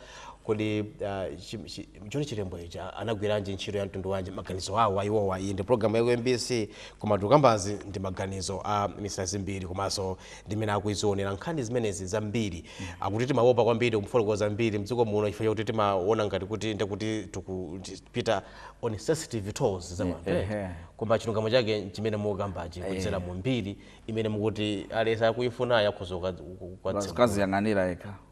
Kodi ah, chi- chi- John Chilembwe ija anagwiranji ntchito ya mtundu wanji maganizo awo a iwowa iyi ndi programu ya ku mbc koma tukambazi ndi maganizo a Mr Zimbiri komanso ndimene akuizionera nkhani zimenezi zambiri akuti timaopa kwambiri kufotokoza mbiri mdziko muno chifukwa chakuti timaona ngati kuti ndekuti tikupita on sensitive toes za wanthu eh. ehe. koma chilungamo chake nchimene mukukambachi kudzera mu mbiri imene mukuti aliyense akuifunayo akhoza ukadzera kukaziyang'anira yekha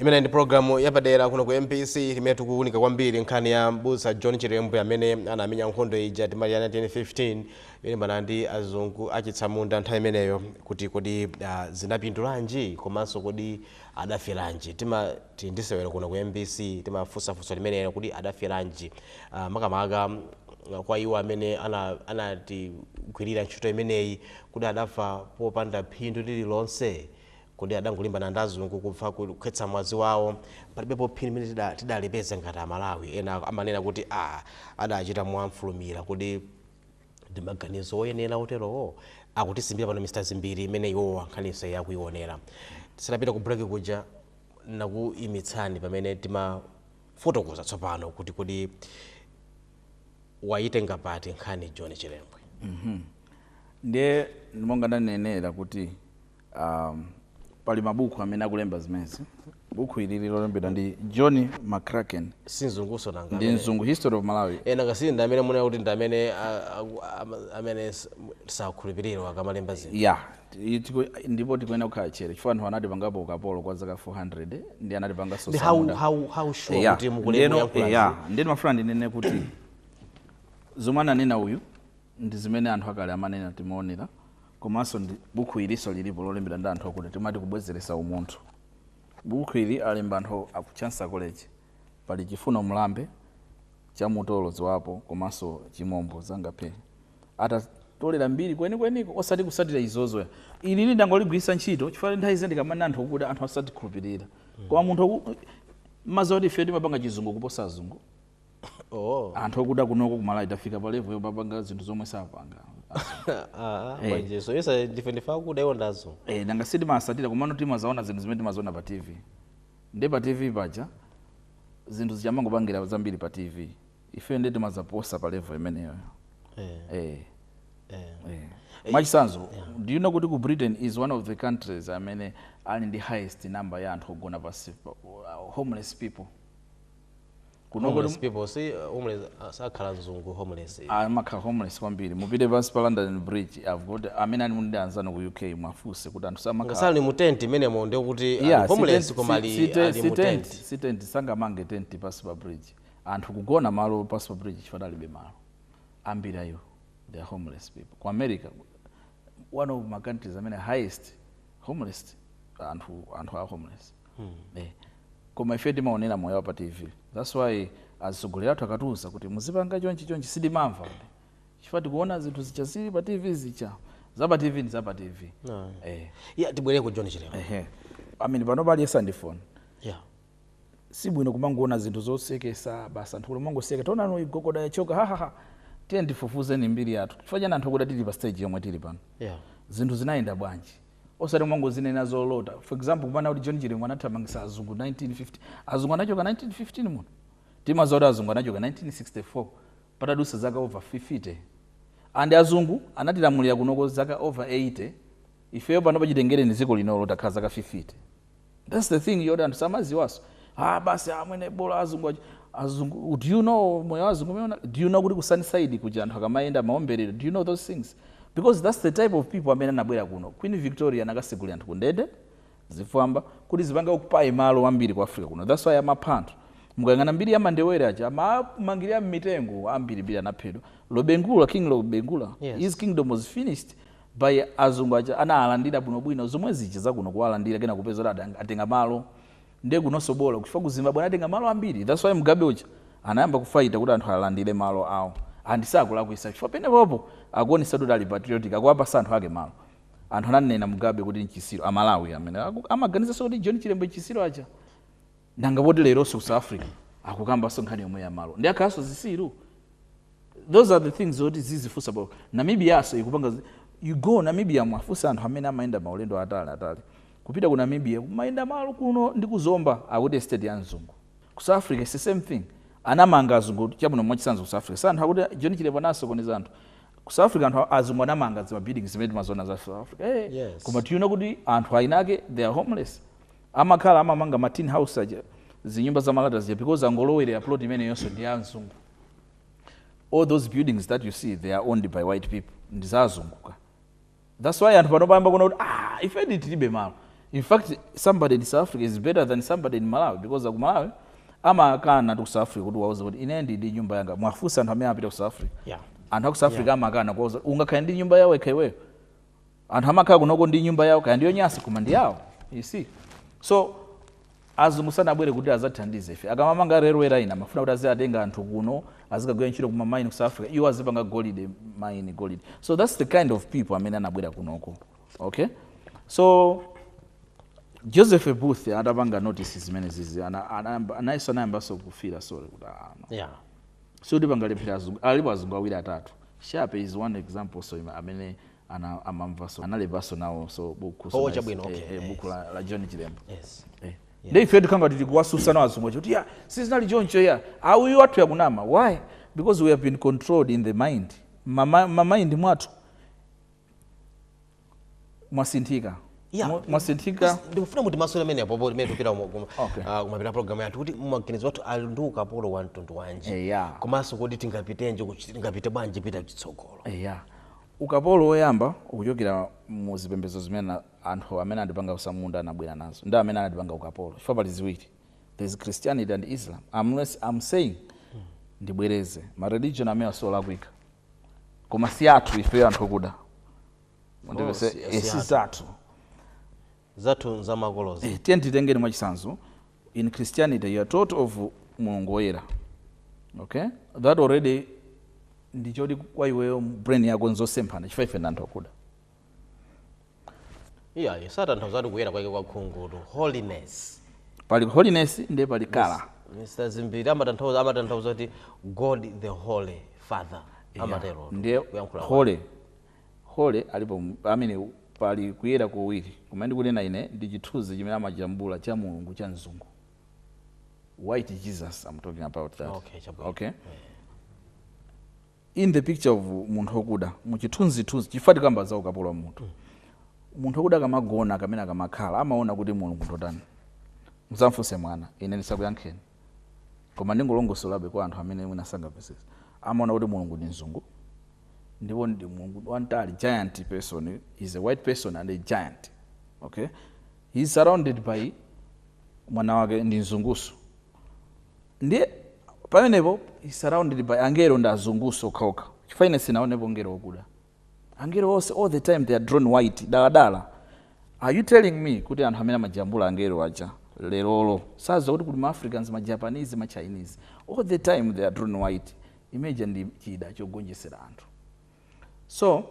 imeneyi ndi programu yapadera kuno ku mbc imene tikuwunika kwambiri nkhani ya mbusa john chilembwe amene anamenya nkhondo ija timati ya 1915 yolimbana ndi azungu achitsamunda nthawi imeneyo kuti kodi uh, zinapindulanji komanso kodi adaferanji? Tima- tili ndi sewero kuno ku mbc timafunsa funso limeneli kuti adaferanji? Uh, makamaka uh, kwa iwo amene anatigwirira ntchito imeneyi kuti adafa popanda phindu lililonse kodi adangolimbana ndi azungu kupha kukhetsa mwazi wawo palibepo phindu limene tidalipeza ngati amalawi ena amanena kuti a ah, adachita mofulumira kodi Ndi maganizo oyenera oterowo akutisimbira pano a Mr Zimbiri mmene iwowa nkhaninso iyi akuionera. Tisanapite ku break kuja ndinakuimitsani pamene mumafotokoza tsopano kuti kodi waitenga pati nkhani John Chilembwe. Ndiye monga ndanenera kuti. Um, pali mabuku amene akulemba zimenezi buku ilili lolembedwa ndi john mccracken si mzungunso nanga ndi mzungu history of malawi e nanga si ndi amene mumanena kuti ndi amene mumawakhulupirira akamalemba zinthu ya ndipo tikuyenera kukhala chete chifukwa anthu anatipangapo ukapolo kwa zaka 400 ndi anatipanganso utsamunda koma ndimafuna ndinene kuti zomwe ananena uyu ndi zimene anthu akale amanena timaonera komanso ndi bukhu ilinso lilipo lolembedwa ndi anthu okuda timati kubwezeresa umunthu bukhu ili alemba anthu aku chancellor college pali chifuno mlambe, che mtolo ziwapo komanso chimombo zangaphee atatolera mbiri kwenikweniko osati kusatira izizo ya ili ndangoligwirisa ntchito chifukwa nthawi zina ndikamanena anthu okuda anthu satikhulupirira koma munthu akumazi oti ife timapanga chizungu kuposa azungu Oh. anthu okuda kunoko kumalawi tafika pa level yopapanga zinthu zomwe sapanga Ah, ah, mmanjemo yesa ndife ndife akuda iwo ndi azungu Eh, nanga si timasatira komano timazaona zinthu zimene timaziona pa tv nde pa tv paja zinthu zija amangopangira zambiri pa tv ife nde timazaposa pa level imeneyo Eh, eh, eh. eh. mwachisanzo do you know kuti ku britain is one of the countries amene ali ndi highest number ya anthu ogona pansi pa- homeless people kuno kodi homeless people si uh, homeless uh, sakhala mzungu homeless amakhala homeless kwambiri mupite pansi pa london bridge i've got amene muli ndi anzanu ku uk muwafunse kuti anthu samakhala ngati ali mu tent imenemo ndiye kuti ali Yeah, si homeless tent- koma si- ali si te- ali si mu tent, tent si tent sangamange tent pansi pa bridge anthu kugona malo pansi pa bridge chifukwa alibe malo ambiri ayi they are homeless people ku america one of ma countries amene highest homeless anthu anthu a homeless Hmm. Eh. Koma ife timaonera moyo wa pa TV. That's why azitsogoleri athu akatiuza kuti muzipanga chonchi chonchi sitimamva. Chifukwa tikuona zinthu zija zili pa TV zija. Za pa TV ndi za pa TV. No. Eh. Yeah, tibwere ku John Chilembwe. Eh. I mean pano aliyense ali ndi phone. Yeah. Si bwino kumangoona zinthu zosekesa basi anthu kumangoseka. Taona nayo gogoda yachoka ha ha ha. Tiyeni tifufuzeni mbiri yathu. Chifukwa chani anthu akuda tili pa stage yomwe tili pano. Yeah. Zinthu zinayenda bwanji? osati kumangozinena zolota for example kumanena kuti john chilembwe anathamangisa azungu 1915 azungu anachoka 1915 muno timaziwa kuti azungu anachoka 1964 patadusa zaka over 50 and azungu anatilamulira kunoko zaka over 80 ifeyo pano chitengereni ziko linoli takhala zaka 50 That's the thing yoti anthu samaziwaso. Ah basi amwene ah, bola azungu azungu do you know moyo wa azungu amenewa? Do you know kuti ku Sunnyside kuja anthu akamayenda amaombeledwa? Do you know those things? Because that's the type of people amene anabwera kuno. Queen Victoria anakasegulira anthu kundende zifwamba kuti zipanga occupy malo ambiri ku Africa kuno. That's why amapha anthu. Mukayang'ana mbiri ya Mandebele aja amamangirira mmitengo ambirimbiri anaphedwa. Lobengula King Lobengula yes. His kingdom was finished By azungu aja anaalandira bwino bwino zomwezija zakuno kuwalandira kenako kupeza kuti adang, atenga malo nde kunonso bola chifukwa ku Zimbabwe anatenga malo ambiri that's why Mugabe uja anayamba kufighter kuti anthu alandire malo awo and sakulakwisa chifukwa penepopo akuonesatu kuti ali patriotic akuwapasa anthu ake malo anthu amamnena Mugabe kuti nchisiru a Malawi amene aku, amaganizanso kuti John Chilembwe nchisiru aja nanga poti leronso ku south africa akukambanso nkhani yomweyi ya malo ndi akhalanso zisiru those are the things zoti tizifunsa pa Namibianso ikupanga zi- you go namibia muwafunse anthu amene amayenda maulendo atali atali kupita ku namibia kumayenda malo kuno ndi ku Zomba akuti estate ya mzungu ku south africa it's the same thing anamanga azungu chabwino mwachitsanzo ku south africa anthu akuti John Chilembwe anasokoneza anthu ku south africa anthu azungu anamanga zima buildings zimene timazona za south africa hey, Yes. koma tiona kuti anthu ayinake they are homeless Amakhala amamanga ma tin house aja zinyumba za malata zija because akangolowerera plot imeneyonso ndi ya mzungu. All those buildings that you see they are owned by white people ndi za azungu ka. That's why anthu panopa ayamba kuona kuti ah ife tilibe malo. In fact somebody in South Africa is better than somebody in Malawi because aku Malawi amakana ku South Africa ukawauza kuti ine ndili ndi nyumba yanga. Muwafunse anthu amene apita ku South Africa. Yeah. Anthu aku South Africa amakana kuwauza ungakhale ndi nyumba yako wekha iweyo. anthu amakhala kunoko ndi nyumba yawo kaya ndiyonyasa koma ndi yawo you see so azungu sanabwere kuti adzathandize ife akamamanga railway line amafuna kuti aziwatenga anthu kuno azikagwira ntchito ku ma mine ku south africa iwo azipanga golide mine golide so that's the kind of people amene anabwera kunoko okay so joseph booth atapanga notice zimenezi naye anayambanso kufila sorry kuti ah, no. yeah. sikuti pangalephere azungu alipo azungu awiri atatu shape is one example so amene ana amamva so analembanso nawo so buku so Oh, nice. chabwino, okay, eh, eh, buku la, la john Chilembwe yes eh. nde ife tikhala tikuwatsutsa nawo azungu kuti ya sizinali choncho ayi yathu yakunama why because we have been controlled in the mind mama, mamind mwathu mwasinthika Yeah. Mwa- mwasinthika ndikufuna kuti muyankhe amene apopo mmene tikupita kuma- kuma- Okay. ah, kumapeto a programu yathu kuti maganizo athu ali ndi ukapolo wa mtundu wanji Eh, yeah. komanso kuti tingapite kuti tingapite bwanji pita chitsogolo eya Ukapolo woyamba ukuchokera mu zipembedzo zimene anthu amene anatipanga utsamunda anabwera nazo ndi amene anatipanga ukapolo chifukwa pali ziwiri there is Christianity and Islam am not am saying ndibwereze ma religion amenewa siolakwika koma siathu ifeyo anthu okuda Oh, mundimvetse si- eh, si si athu. zathu. Zathu nzamakolozi. Eh tiyeni titenge mwachitsanzo in Christianity you are taught of Mulungu woyera. Okay? That already ndiye kuti kwa iweyo brain yako nzosemphana chifukwa ife ndanthu akuda. Iyayi satanthauza kuti kuyera kwake kwa khungu to holiness. Pali holiness ndiye pali kala. Mr. Zimbiri amatanthauza amatanthauza kuti God the Holy Father. Amatero. Ndiye holy Hole alipo mu, amene, pali kuyera kuwiri, koma ine ndikunena, ine, ndi chithunzi chimene amajambula cha Mulungu cha mzungu. White Jesus, I'm talking about that. Okay, chabwino. Okay? In the picture of munthu okuda, mu chithunzithunzi, chifukwa tikamba za ukapolo wa munthu. Munthu okuda akamagona kamene akamakhala, amaona kuti Mulungu ndotani. Mzamfunse mwana, ine ndisakuyankheni. Koma ndingolongosolabe kwa anthu amene mwina sangamvetsetse. Amaona kuti Mulungu ndi mzungu. ndipo ndi mulungu wamtali giant person is a white person and a giant okay he is surrounded by mwana wake ndi mzungunso ndiye pamenepo he is surrounded by angelo ndi azungunso okhaokha chifukwa ine sinaonepo ngelo wakuda angelo onse all the time they are drawn white daladala are you telling me kuti anthu amene amajambula angelo aja lerolo saziwa kuti kuli maafricans majapanese machinese all the time they are drawn white Imeja ndi chida chogonjetsera anthu so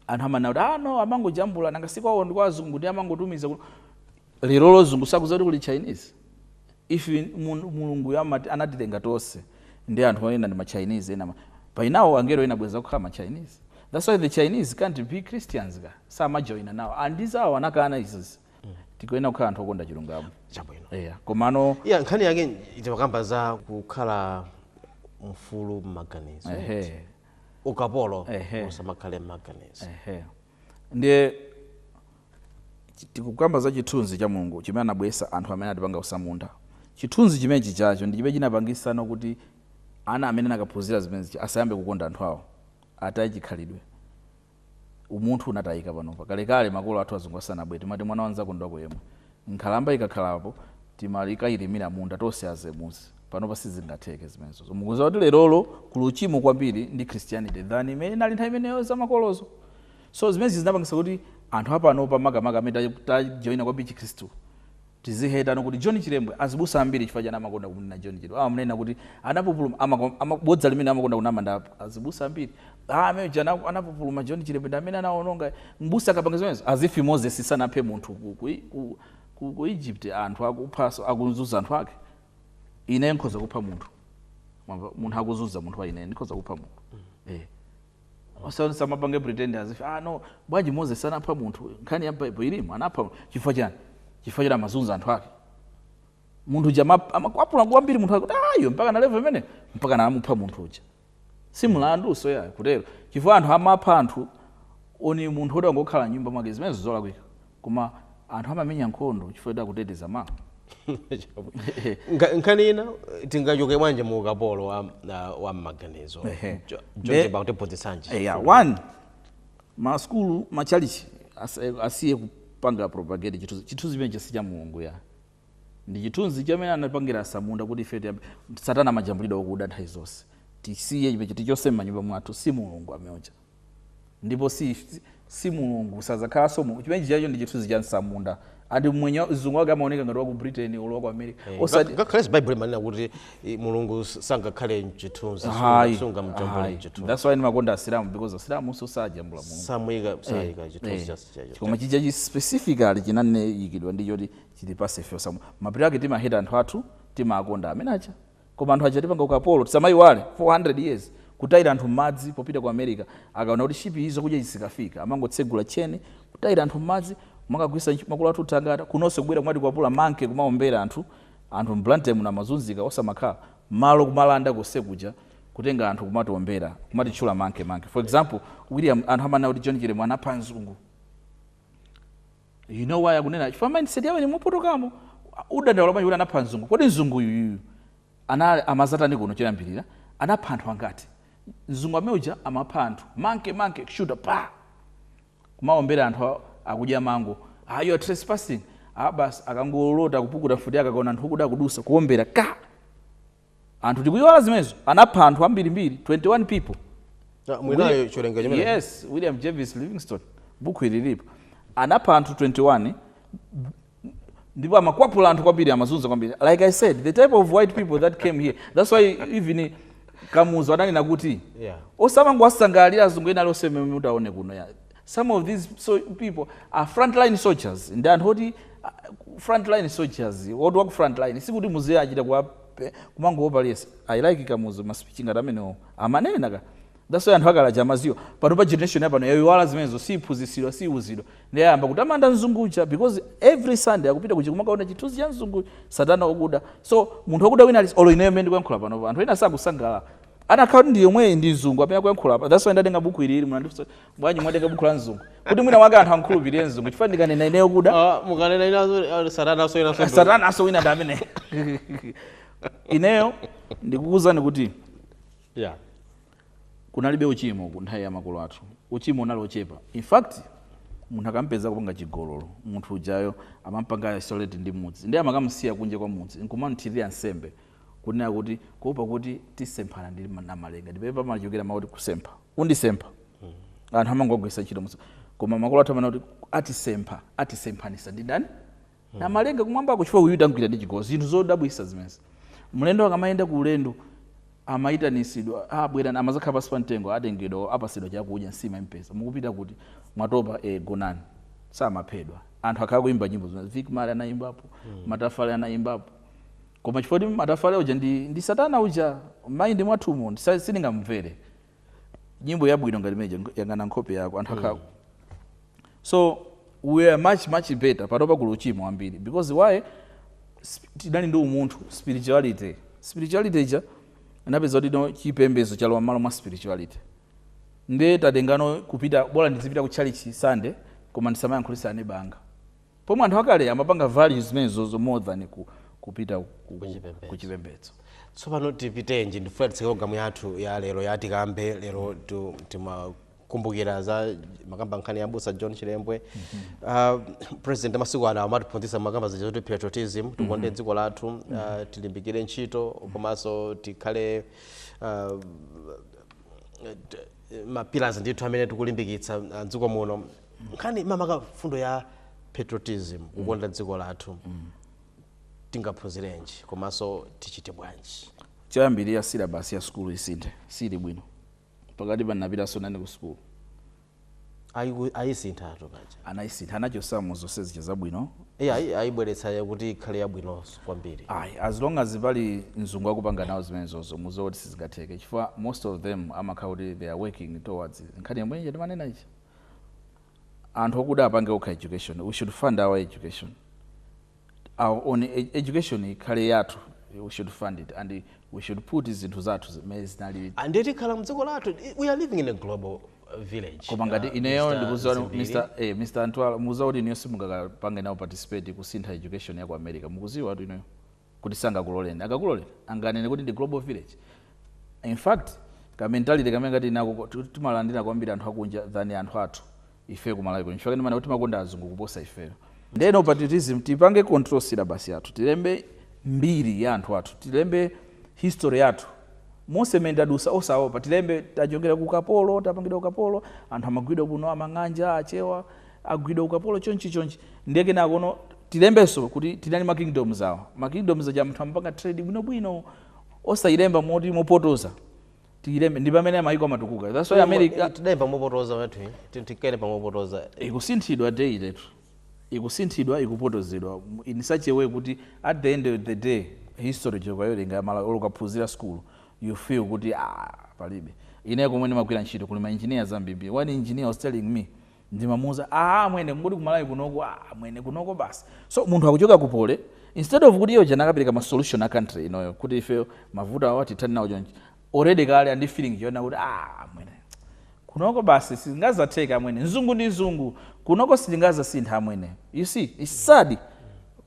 anthu amanena kuti ah no amangojambula nanga si kwawo ndi kwa azungu ndi amangotumiza kuno lerolo azungu sakuziwa kuti kuli chinese if mun- mulunguyo amati- anatilenga tonse ndi anthu ena ndi machinese ena ma- by now angelo ena bwezi akukhala machinese that's why the chinese can't be christians ka samajoina nawo andizawo anakana izizi tikuyenera kukhala anthu okonda chilungamo chabwino eya komano iyi nkhani yake itakamba za kukhala mfulu mmaganizo ehe ukapolo Ehe. usamakhale mmaganizo ehe ndiye chi- tikukamba za chithunzi cha mulungu chimene anabwesa anthu amene atipanga utsamunda chithunzi chimenechi chacho ndi chimene chinapangisana kuti ana amene anakaphunzira zimenezi asiye kukonda anthu awo ataye chikhalidwe umunthu unatayika panopa. Kalekale makolo athu azungu asanabwere timati mwana wa nzako ndi wako yemwe. Nkhalamba ikakhala apo timakailimira munda tonse azemuzi. Panopa sizingatheke zimenezi. So mukuziwa kuti lerolo kuli uchimo kwambiri ndi Christianity than imene inali nthawi imeneyo za makolozo. So zimenezi zinapangisa kuti anthu apanopa makamaka amene tajoina kwambiri chikhristu Tizihetana kuti John Chilembwe azibusa ambiri chifukwa chani amakonda kumunena John Chilembwe amamunena kuti anapupuluma ama ama bodza limene amakonda kunama ndi azibusa ambiri ah amene uja ana- anapupuluma John Chilembwe ndi amene anawononga mbusa akapanga zimenezo as if Moses sanaphe munthu ku, ku, ku, ku, ku Egypt anthu akuphanso akuzunza anthu ake ine nkhoza kupha munthu Mwamva? munthu akuzunza munthu wa ine ndikhoza kupha munthu eh Osati azimapanga pretend as if ah no bwanji Moses anapha munthu nkhani ya Bible ilimo anapha chifukwa chani chifukwa choti amazunza anthu ake munthu uja ama- amakwapula kwambiri munthu akuti ayo mpakana level imene mpakana amupha munthu uja si mlandu so ya kutero chifukwa anthu amapha anthu oni munthu woti wangokhala nyumba mwake zimenezo ndi zolakwika Koma anthu amamenya nkhondo chifukwa choti akuteteza ma. Nkha- nkhani ina tingachoke bwanji mu ukapolo wa, ah, wa mmaganizo Ehe. Jo- Nde- George bakutiphunzitsanji Eya, one masukulu matchalichi asa- asiye kupanga propagate chithunzi chithunzi chimene si cha mulungu ya ndi chithunzi chimene anapangira atsamunda kuti ife tiyambe- satana amajambulidwa okuda nthawi zonse tisiye chimene tichotse m'manyumba mwathu si mulungu amene uja Ndipo si, si, si Mulungu, sadzakhalanso Mulungu. Chimene chijacho ndi chithunzi cha mtsamunda. Ati mmwenye wa- mzungu wake amaoneka ngati wa ku Britain olo wa ku America. Eh, Osati ngak- ngakhalenso baibulo imanena kuti eh, mulungu s- sangakhale mchithunzi Hayi, sungamjambule hayi. mchithunzi That's why ndimakonda asilamu because asilamunso sajambula mulungu samuyika sayika chithunzi Eh, chas- chacho koma chija chi specifically chinaikidwa ndi choti chitipatse ife osamu mapiri ake timaheta anthu athu timakonda amene aja koma anthu anatipanga ukapolo tisamaiwale 400 years kutaira anthu mmadzi popita ku America akaona kuti ship iyi zakudya izi zikafika amangotsegula chain kutaira anthu mmadzi kumakagwiritsa ntchito makolo athu thangata kunonso kubwera kumatikwapula monkey kumaombera anthu anthu m'Blantyre muno amazunzika osamakhala malo kumalanda konsekuja kutenga anthu kumatiombera kumatitchula monkey monkey for example William anthu amanena kuti John Chilembwe anapha mzungu You know why akunena chifukwa mindset yawo ili yopotoka. Ukudandaula bwanji kuti anapha mzungu? Kodi mzungu uyuyu ana amazatani kuno choyambirira? Anapha anthu angati? Mzungu amene uja amapha anthu. Monkey monkey kushuta pa. Kumaombera anthu a- akudya mango. Ah, you are trespassing. Ah, basi akangolota kupukuta mfuti yake akaona anthu okuda akudutsa kuombera ka. anthu tikuiwala zimenezo anapha anthu ambirimbiri 21 people Ah, muli nayo chiwerengero chimene yes william jervis livingstone buku ili lipo anapha anthu 21 ndipo amakwapula anthu kwambiri amazunza kwambiri like i said the type of white people that came here that's why even kamuzu ananena kuti Yeah. osamangowasangalalira azungu ena ali osayenera kutiona kunoko Some of these people are frontline soldiers ndi anthu oti ah, frontline soldiers oti waku frontline sikuti muziye achita kuwape- kumangowopa liyese i like kamuzu ma speech ngati amenewo amanena ka that's why anthu akale aja amadziwa pano pa generation yapano yaiwala zimenezo siiphunzitsidwa siiwuzidwa ndi ayamba kutamanda mzungu uja because every sunday akupita ku church kumakaona chithunzi cha mzungu satana okuda so munthu okuda wina ali olo ineyo mmene ndikuyankhula panopa anthu ena sakusangalala anakhala nkhani yomweyi ndi mzungu amene akuyankhula apa that's why ndatenga buku ili ili munandifunsa bwanji mwatenga buku la mzungu kuti mwina mwake anthu amkhulupirire mzungu chifukwa ndikanena ineyo okuda Ah, mukanena inazo ah, satana asoyera sondo satana asowina ndi amene ineyo ndikukuwuzani kuti yeah kunalibe uchimo ku nthawi ya makolo athu uchimo unali ochepa in fact munthu akampeza akupanga chigololo munthu ujayo amampanga isolate ndi mudzi ndiye amakamusiya kunja kwa mudzi nkumamthirira nsembe kunena kuti kuopa kuti tisemphane ndi ma- namalenga ndipo pamachokera makuti kusempha undisempha anthu amangogwiritsa ntchito musa koma makolo athu amanena kuti atisempha atisemphanisa ndi ndani hmm. namalenga kumwambako chifukwa uyu tangwira ndi chigozi zinthu zodabwisa zimenezi mlendo akamayenda ku ulendo amayitanisidwa abwera ah, amazakhala pasi pa mtengo atengedwa apasidwa chakudya nsima impesa mukupita kuti mwatopa e gonani samaphedwa anthu akhala kuimba nyimbo zimene Vic Marley anayimbapo hmm. matafale anayimbapo Koma chifukwa kuti Matafale uja ndi ndi satana uja mind mwathumu ndisa- sindingamumvere. Nyimbo yabwino ngati imene ija yang'ana nkhope yako anthu akale. So we are much much better panopa kuli uchimo wambiri because why sp- tidali ndi umunthu spirituality spirituality ija inapeza kuti no chipembedzo chalowa m'malo mwa spirituality nde tatengano kupita bola ndizipita ku tchalitchi Sunday koma ndisamayankhulisa aneba anga Pomwe anthu akale amapanga value zimenezo zo more than ku, kupita ku, ku, ku chipembedzo. Tsopano tipitenji ndifuna titseke pulogalamu yathu ya lero ya tikambe lero tu- timakumbukira za makamba nkhani ya busa John Chilembwe. Uh, m'busa president amasiku ano amatiphunzitsa makamba zija zoti patriotism tikonde dziko lathu uh, tilimbikire ntchito komanso tikhale uh, t- mapillars ndithu amene tikulimbikitsa uh, dziko muno nkhani makamaka mfundo ya patriotism kukonda dziko lathu tingaphunzirenji komanso tichite bwanji choyambirira syllabus ya sukulu isinthe sili bwino pakati panapitanso nane ku sukulu Ayi- ayisintha nanga paja anayisintha anachosamo zonse zija zabwino Iye ayi- ayibweretsa ya kuti ikhale yabwinonso kwambiri ayi as long as pali mzungu akupanga nawo zimenezozo muziwe kuti sizingatheke chifukwa most of them amakhala kuti they are working towards nkhani yomwe ija timanena ija anthu okuda apange okha education we should fund our education our own e- education ikhale yathu we should fund it and we should put zinthu zathu zimene zinali ande tikhala mdziko lathu we are living in a global uh, village koma ngati Uh, ineyo Mr. mukuziwa Zimviri. Mr. Eh, Mr. Antwala mukuziwa kuti ineyo simungakapange nawo participate kusintha education ya ku America mukuziwa kuti ineyo kuti sangakuloleni akakuloleni anganene kuti ndi global village in fact ka mentality kamene tili nako ko- tu- timalandira kwambiri anthu akunja than anthu athu ife ku malawi kuno chifukwa ndimanena kuti timakonda azungu kuposa ifeyo ndeno patriotism tipange control syllabus yathu tilembe mbiri ya anthu athu tilembe history yathu yonse mmene tadusa osaopa tilembe tachokera ku ukapolo tapangidwa ukapolo anthu amagwidwa kuno amang'anja achewa agwidwa ukapolo chonchi chonchi ndiye kenakono tilembenso kuti tinali ndi ma kingdoms awa ma kingdoms aja munthu amapanga trade bwinobwino osayilemba moti mopotoza tiyilembe ndi pamene mayiko amatukuka that's why america tidayimba mopotoza wathu tikere pamopotoza ikusinthidwa daily ikusinthidwa ikupotozedwa in such a way kuti at the end of the day history chokayolenga mala olo ukaphunzira school you feel kuti ah palibe ine komwe ndimagwira ntchito kuli ma engineers ambiri one engineer was telling me Ndimamuuza aah amwene kungoti ku Malawi kunoko aah amwene kunoko basi so munthu akuchoka ku Poly instead of kuti iye uja akanapereka ma solution a country inoyo kuti ifeyo mavuto awa tithane nawo chonchi already kale ali ndi feeling yonena kuti aah amwene kunoko basi sizingazatheke amwene mzungu ndi mzungu kunoko sitingazasinthe amwene you see it's sad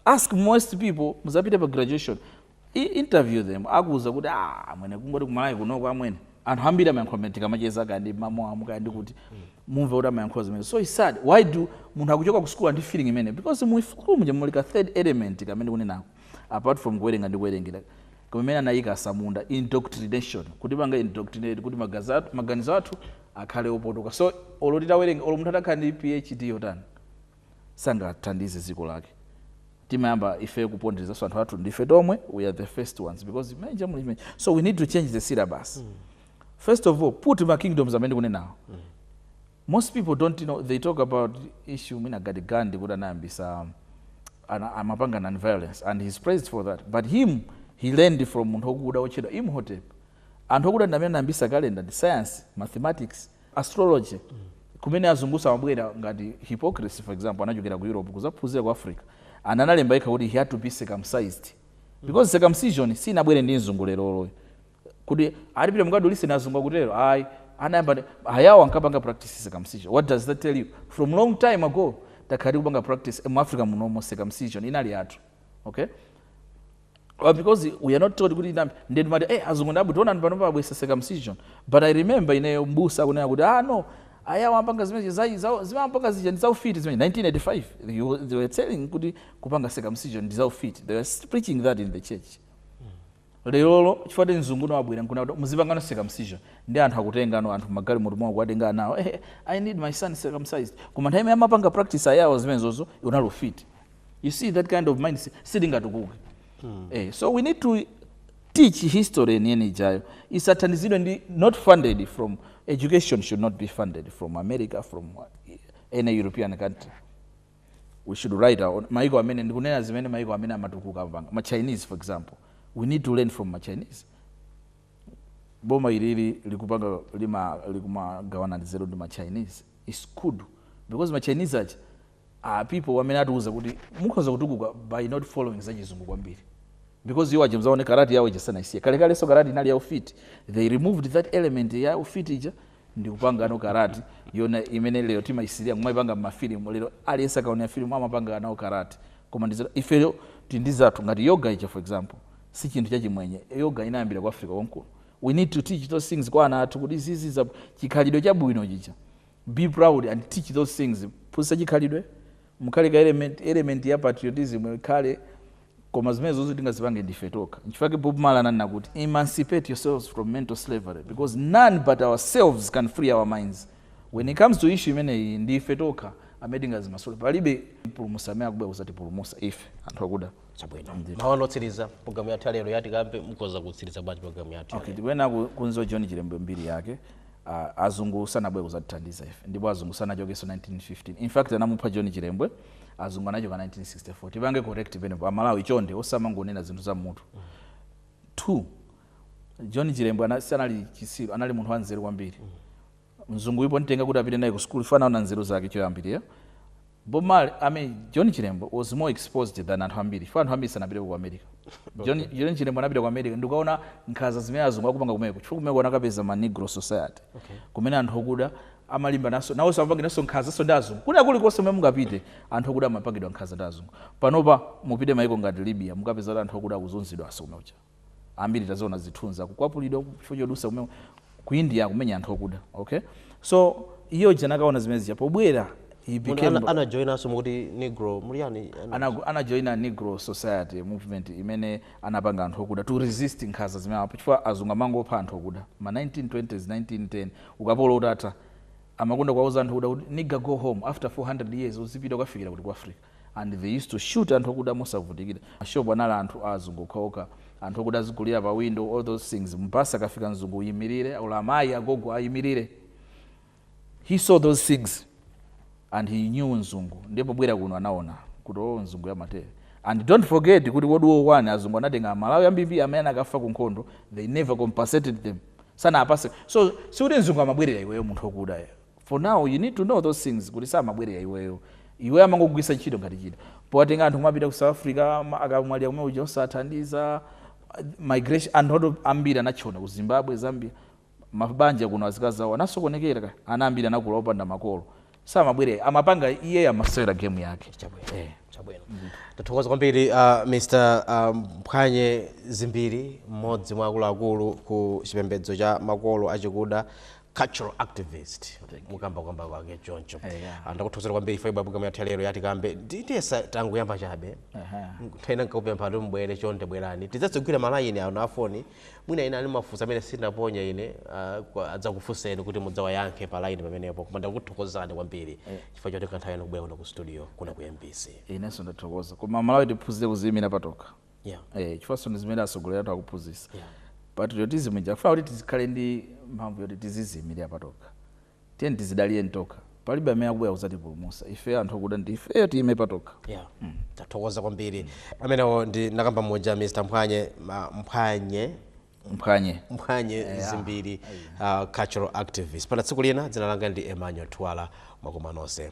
ask most people muzapite pa graduation I, interview them akuuzani kuti ah amwene kungoti ku Malawi kunoko amwene anthu ambiri amayankhula mene tikamacheza kaya ndi ma Muammar kaya ndi kuti mumve kuti amayankhula zimene so it's sad why do munthu akuchoka ku school ndi feeling imene because mu school muja muli ka third element kamene ndikunenako apart from kuwerenga ndi kuwerengera kumene anayika atsamunda indoctrination kutipanga indoctrinate kuti magazi athu- maganizo athu akhale opotoka so olo titawerenga olo munthu atakhala ndi phd yotani sangathandize dziko lake timayamba ife kuponderezanso anthu athu ndife tomwe we are the first ones because manje muli manje so we need to change the syllabus mm. first of all put ma kingdoms amene ndikunenawo mm. most people don't know they talk about issue ya Mahatma Gandhi kuti anayambisa amapanga non violence and he's praised for that but him he learned from munthu okuda otchedwa imhotep anthu okuda ndi amene anayambisa kalenda ndi science mathematics astrology kumene azungu amabwera ngati Hippocrates for example anachokera ku europe kuzaphunzira ku africa and analemba yekha kuti he had to be circumcised because circumcision sinabwere ndi mzungu leroloyo kuti akuti pitani mukadulise ndi azungu akutero ayi anayamba ndi- ayawo ankapanga practice circumcision what does that tell you from long time ago takhala tikupanga practice mu africa munomo circumcision inali yathu okay Well, because we are not taught kuti ndambi ndiye timati eh azungu ndi abwino taonani panopa abweretsa circumcision but i remember ine mbusa akunena kuti ah no ayawo amapanga zimene za- za- amapanga zija ndi zaufiti zimene 1985 they were- they were telling kuti kupanga circumcision ndi zaufiti they were preaching that in the church Lerolo chifukwa kuti mzunguno wabwera nkunena kuti muzipangano circumcision ndiye anthu akutengano anthu mmagalimoto mwawo kuwatenga ana awo eheh I need my son circumcised koma nthawi imene amapanga practice ayawo zimenezozo unali ufiti you see that kind of mindset sitingatukuke eh so we need to teach history yeniyeni ijayo isathandizidwe ndi not funded from education should not be funded from America from what, any European country we should write our own maiko amene ndikunena zimene maiko amene amatukuka amapanga ma chinese for example we need to learn from ma chinese boma ilili likupangali ma likumagawana nzeru ndi ma chinese is good because ma chinese aja are people amene akutiuza kuti mukhoza kutukuka by not following zachizungu kwambiri because iwo aja mudzaone karati yawo ija sanayisiye kalekalenso karati inali ya ufiti they removed that element ya ufiti ija ndikupangano karati yoona imene lero timaisirira kumaipanga mmafilimu lero aliyense akaonera filimu amapanga nawo karati koma ndiyetu ifeyo tili ndi zathu ngati yoga ija for example si chinthu chachimwenye yoga inayambira ku africa konkuno we need to teach those things kwa ana athu kuti zinthu za chikhalidwe chabwino chija be proud and teach those things phunzitsa chikhalidwe mukhale ka element, element ya patriotism ikhale Koma zimenezo sitingazipange ndife tokha. N'chifukwa chake Bob Marley ananena kuti, Emancipate yourselves from mental slavery because none but ourselves can free our minds. When it comes to issue imeneyi, ndi ife tokha amene tingazimasule. Palibe mpulumutsi amene akubwera kudzatipulumutsa ife anthu akuda. Chabwino. Mawu otsiriza programu yathu ya lero ya Tikambe mukhoza kutsiriza bwanji programu yathu. Okay, tikuyenera kudziwa John Chilembwe mbiri yake. Uh, azungu sanabwere kudzatithandiza ife ndipo azungu sanachokenso 1915. In fact anamupha John Chilembwe. azungu anachoka 1964 tipange correct penepo amalawi chonde osamangonena zinthu za mmutu 2 john chilembwe ana- sanali chisiru anali munthu wanzeru kwambiri mzungu pomutenga kuti apite naye ku sukulu anaona nzeru zake choyambirira bob marley i mean john chilembwe was more exposed than anthu ambiri chifukwa anthu ambiri sanapite ku america john, john chilembwe anapita ku america ndikuona nkhaza zimene azungu akupanga kumeko chifukwa kumeko anakapeza ma negro society kumene anthu okuda amalimbana nawonso, amapangidwanso nkhanzanso ndi azungu. Kwina kulikonse kumene mungapite, anthu akuda amapangidwa nkhanza ndi azungu. Panopa mupite maiko ngati Libya, mukapeza kuti anthu akuda akuzunzidwanso kumenekuja. Ambiri taziona zithunzi, akukwapulidwa ku chifukwa chodutsa kumene ku India akumenya anthu akuda. Okay? So, iye uja anakaona zimene zija, pobwera, he Munthu became ana- anajoinanso mukuti negro ujeni ana- Anago- anajoina negro society movement imene anapanga anthu okuda to resist nkhanza zimenezi apa chifukwa azungu amangopha anthu okuda ma 1920s 1910 Ukapolo utatha, amakonda kuwauza anthu akuda kuti Nigga go home, after 400 years uzipita ukafikira kuti ku Africa? And they used to shoot anthu akuda mosavutikira. Ma shop anali anthu a azungu okhaokha, anthu okuda azigulira pa window, all those things. Mu bus akafika mzungu uyimilire, or amayi, agogo ayimilire. He saw those things and he knew mzungu. Ndiye pobwera kuno anaona kuti oh mzunguyu amatere. And don't forget kuti World War One azungu anatenga amalawi ambirimbiri amene anakafa ku nkhondo, they never compensated them. sanawapatse so sikuti mzungu amabwerera iweyo munthu okuda so now you need to know those things kuti samabwerera iweyo iweyo amangokugwiritsa ntchito ngati chida powatenga anthu kumapita ku south africa ma- akamwalira kumene uja osathandiza migration anthu athu ambiri anatchona ku zimbabwe zambia mabanja kuno azikazawo anasokonekera ana ambiri anakula opanda makolo samabwere amapanga iye amasewera game yake chabwino eh. chabwino tathokoza kwambiri uh, mr mphwanye um, zimbiri mmodzi mwa akuluakulu ku chipembedzo cha makolo achikuda cultural activist mukukamba kukamba kwake choncho hey, eh, yeah. ndakuthokozani kwambiri ife program yathu ya lero ya Tikambe ndiyesa tangoyamba chabe uh -huh. nthawi ina nkakupemphani kuti mbwere chonde bwerani tidzatsegwira malayini a mafoni Mwina ena ali ndi mafunso amene sinaponya ine uh, adzakufunseni kuti mudzawayankha pa line pamenepo koma ndakuthokozani kwambiri eh. chifukwa chotenga nthawi yanu kubwera kuno ku studio kuno ku mbc inenso ndathokoza koma amalawi tiphunzire kuziyimira patokha yeah. eh, chifukwanso ndi zimene atsogoleri athu akuphunzisa yeah. patriotism ija akufuna kuti tizikhala ndi mphamvu yoti tiziziyimirira patokha tiyeni tizidalire tokha palibe amene akubwera kuzatipulumusa ifeyo anthu okuda ndi ifeyo tiime patokha yeah. mm. tathokoza kwambiri mm. amenewo ndi mnakamba mmodzi mr mphwanye ma, mphwanye mphwanye mphwanye yeah. zimbiri uh, cultural activist mpaka tsiku lina dzina langa ndi emmanuel twala mwakoma nonse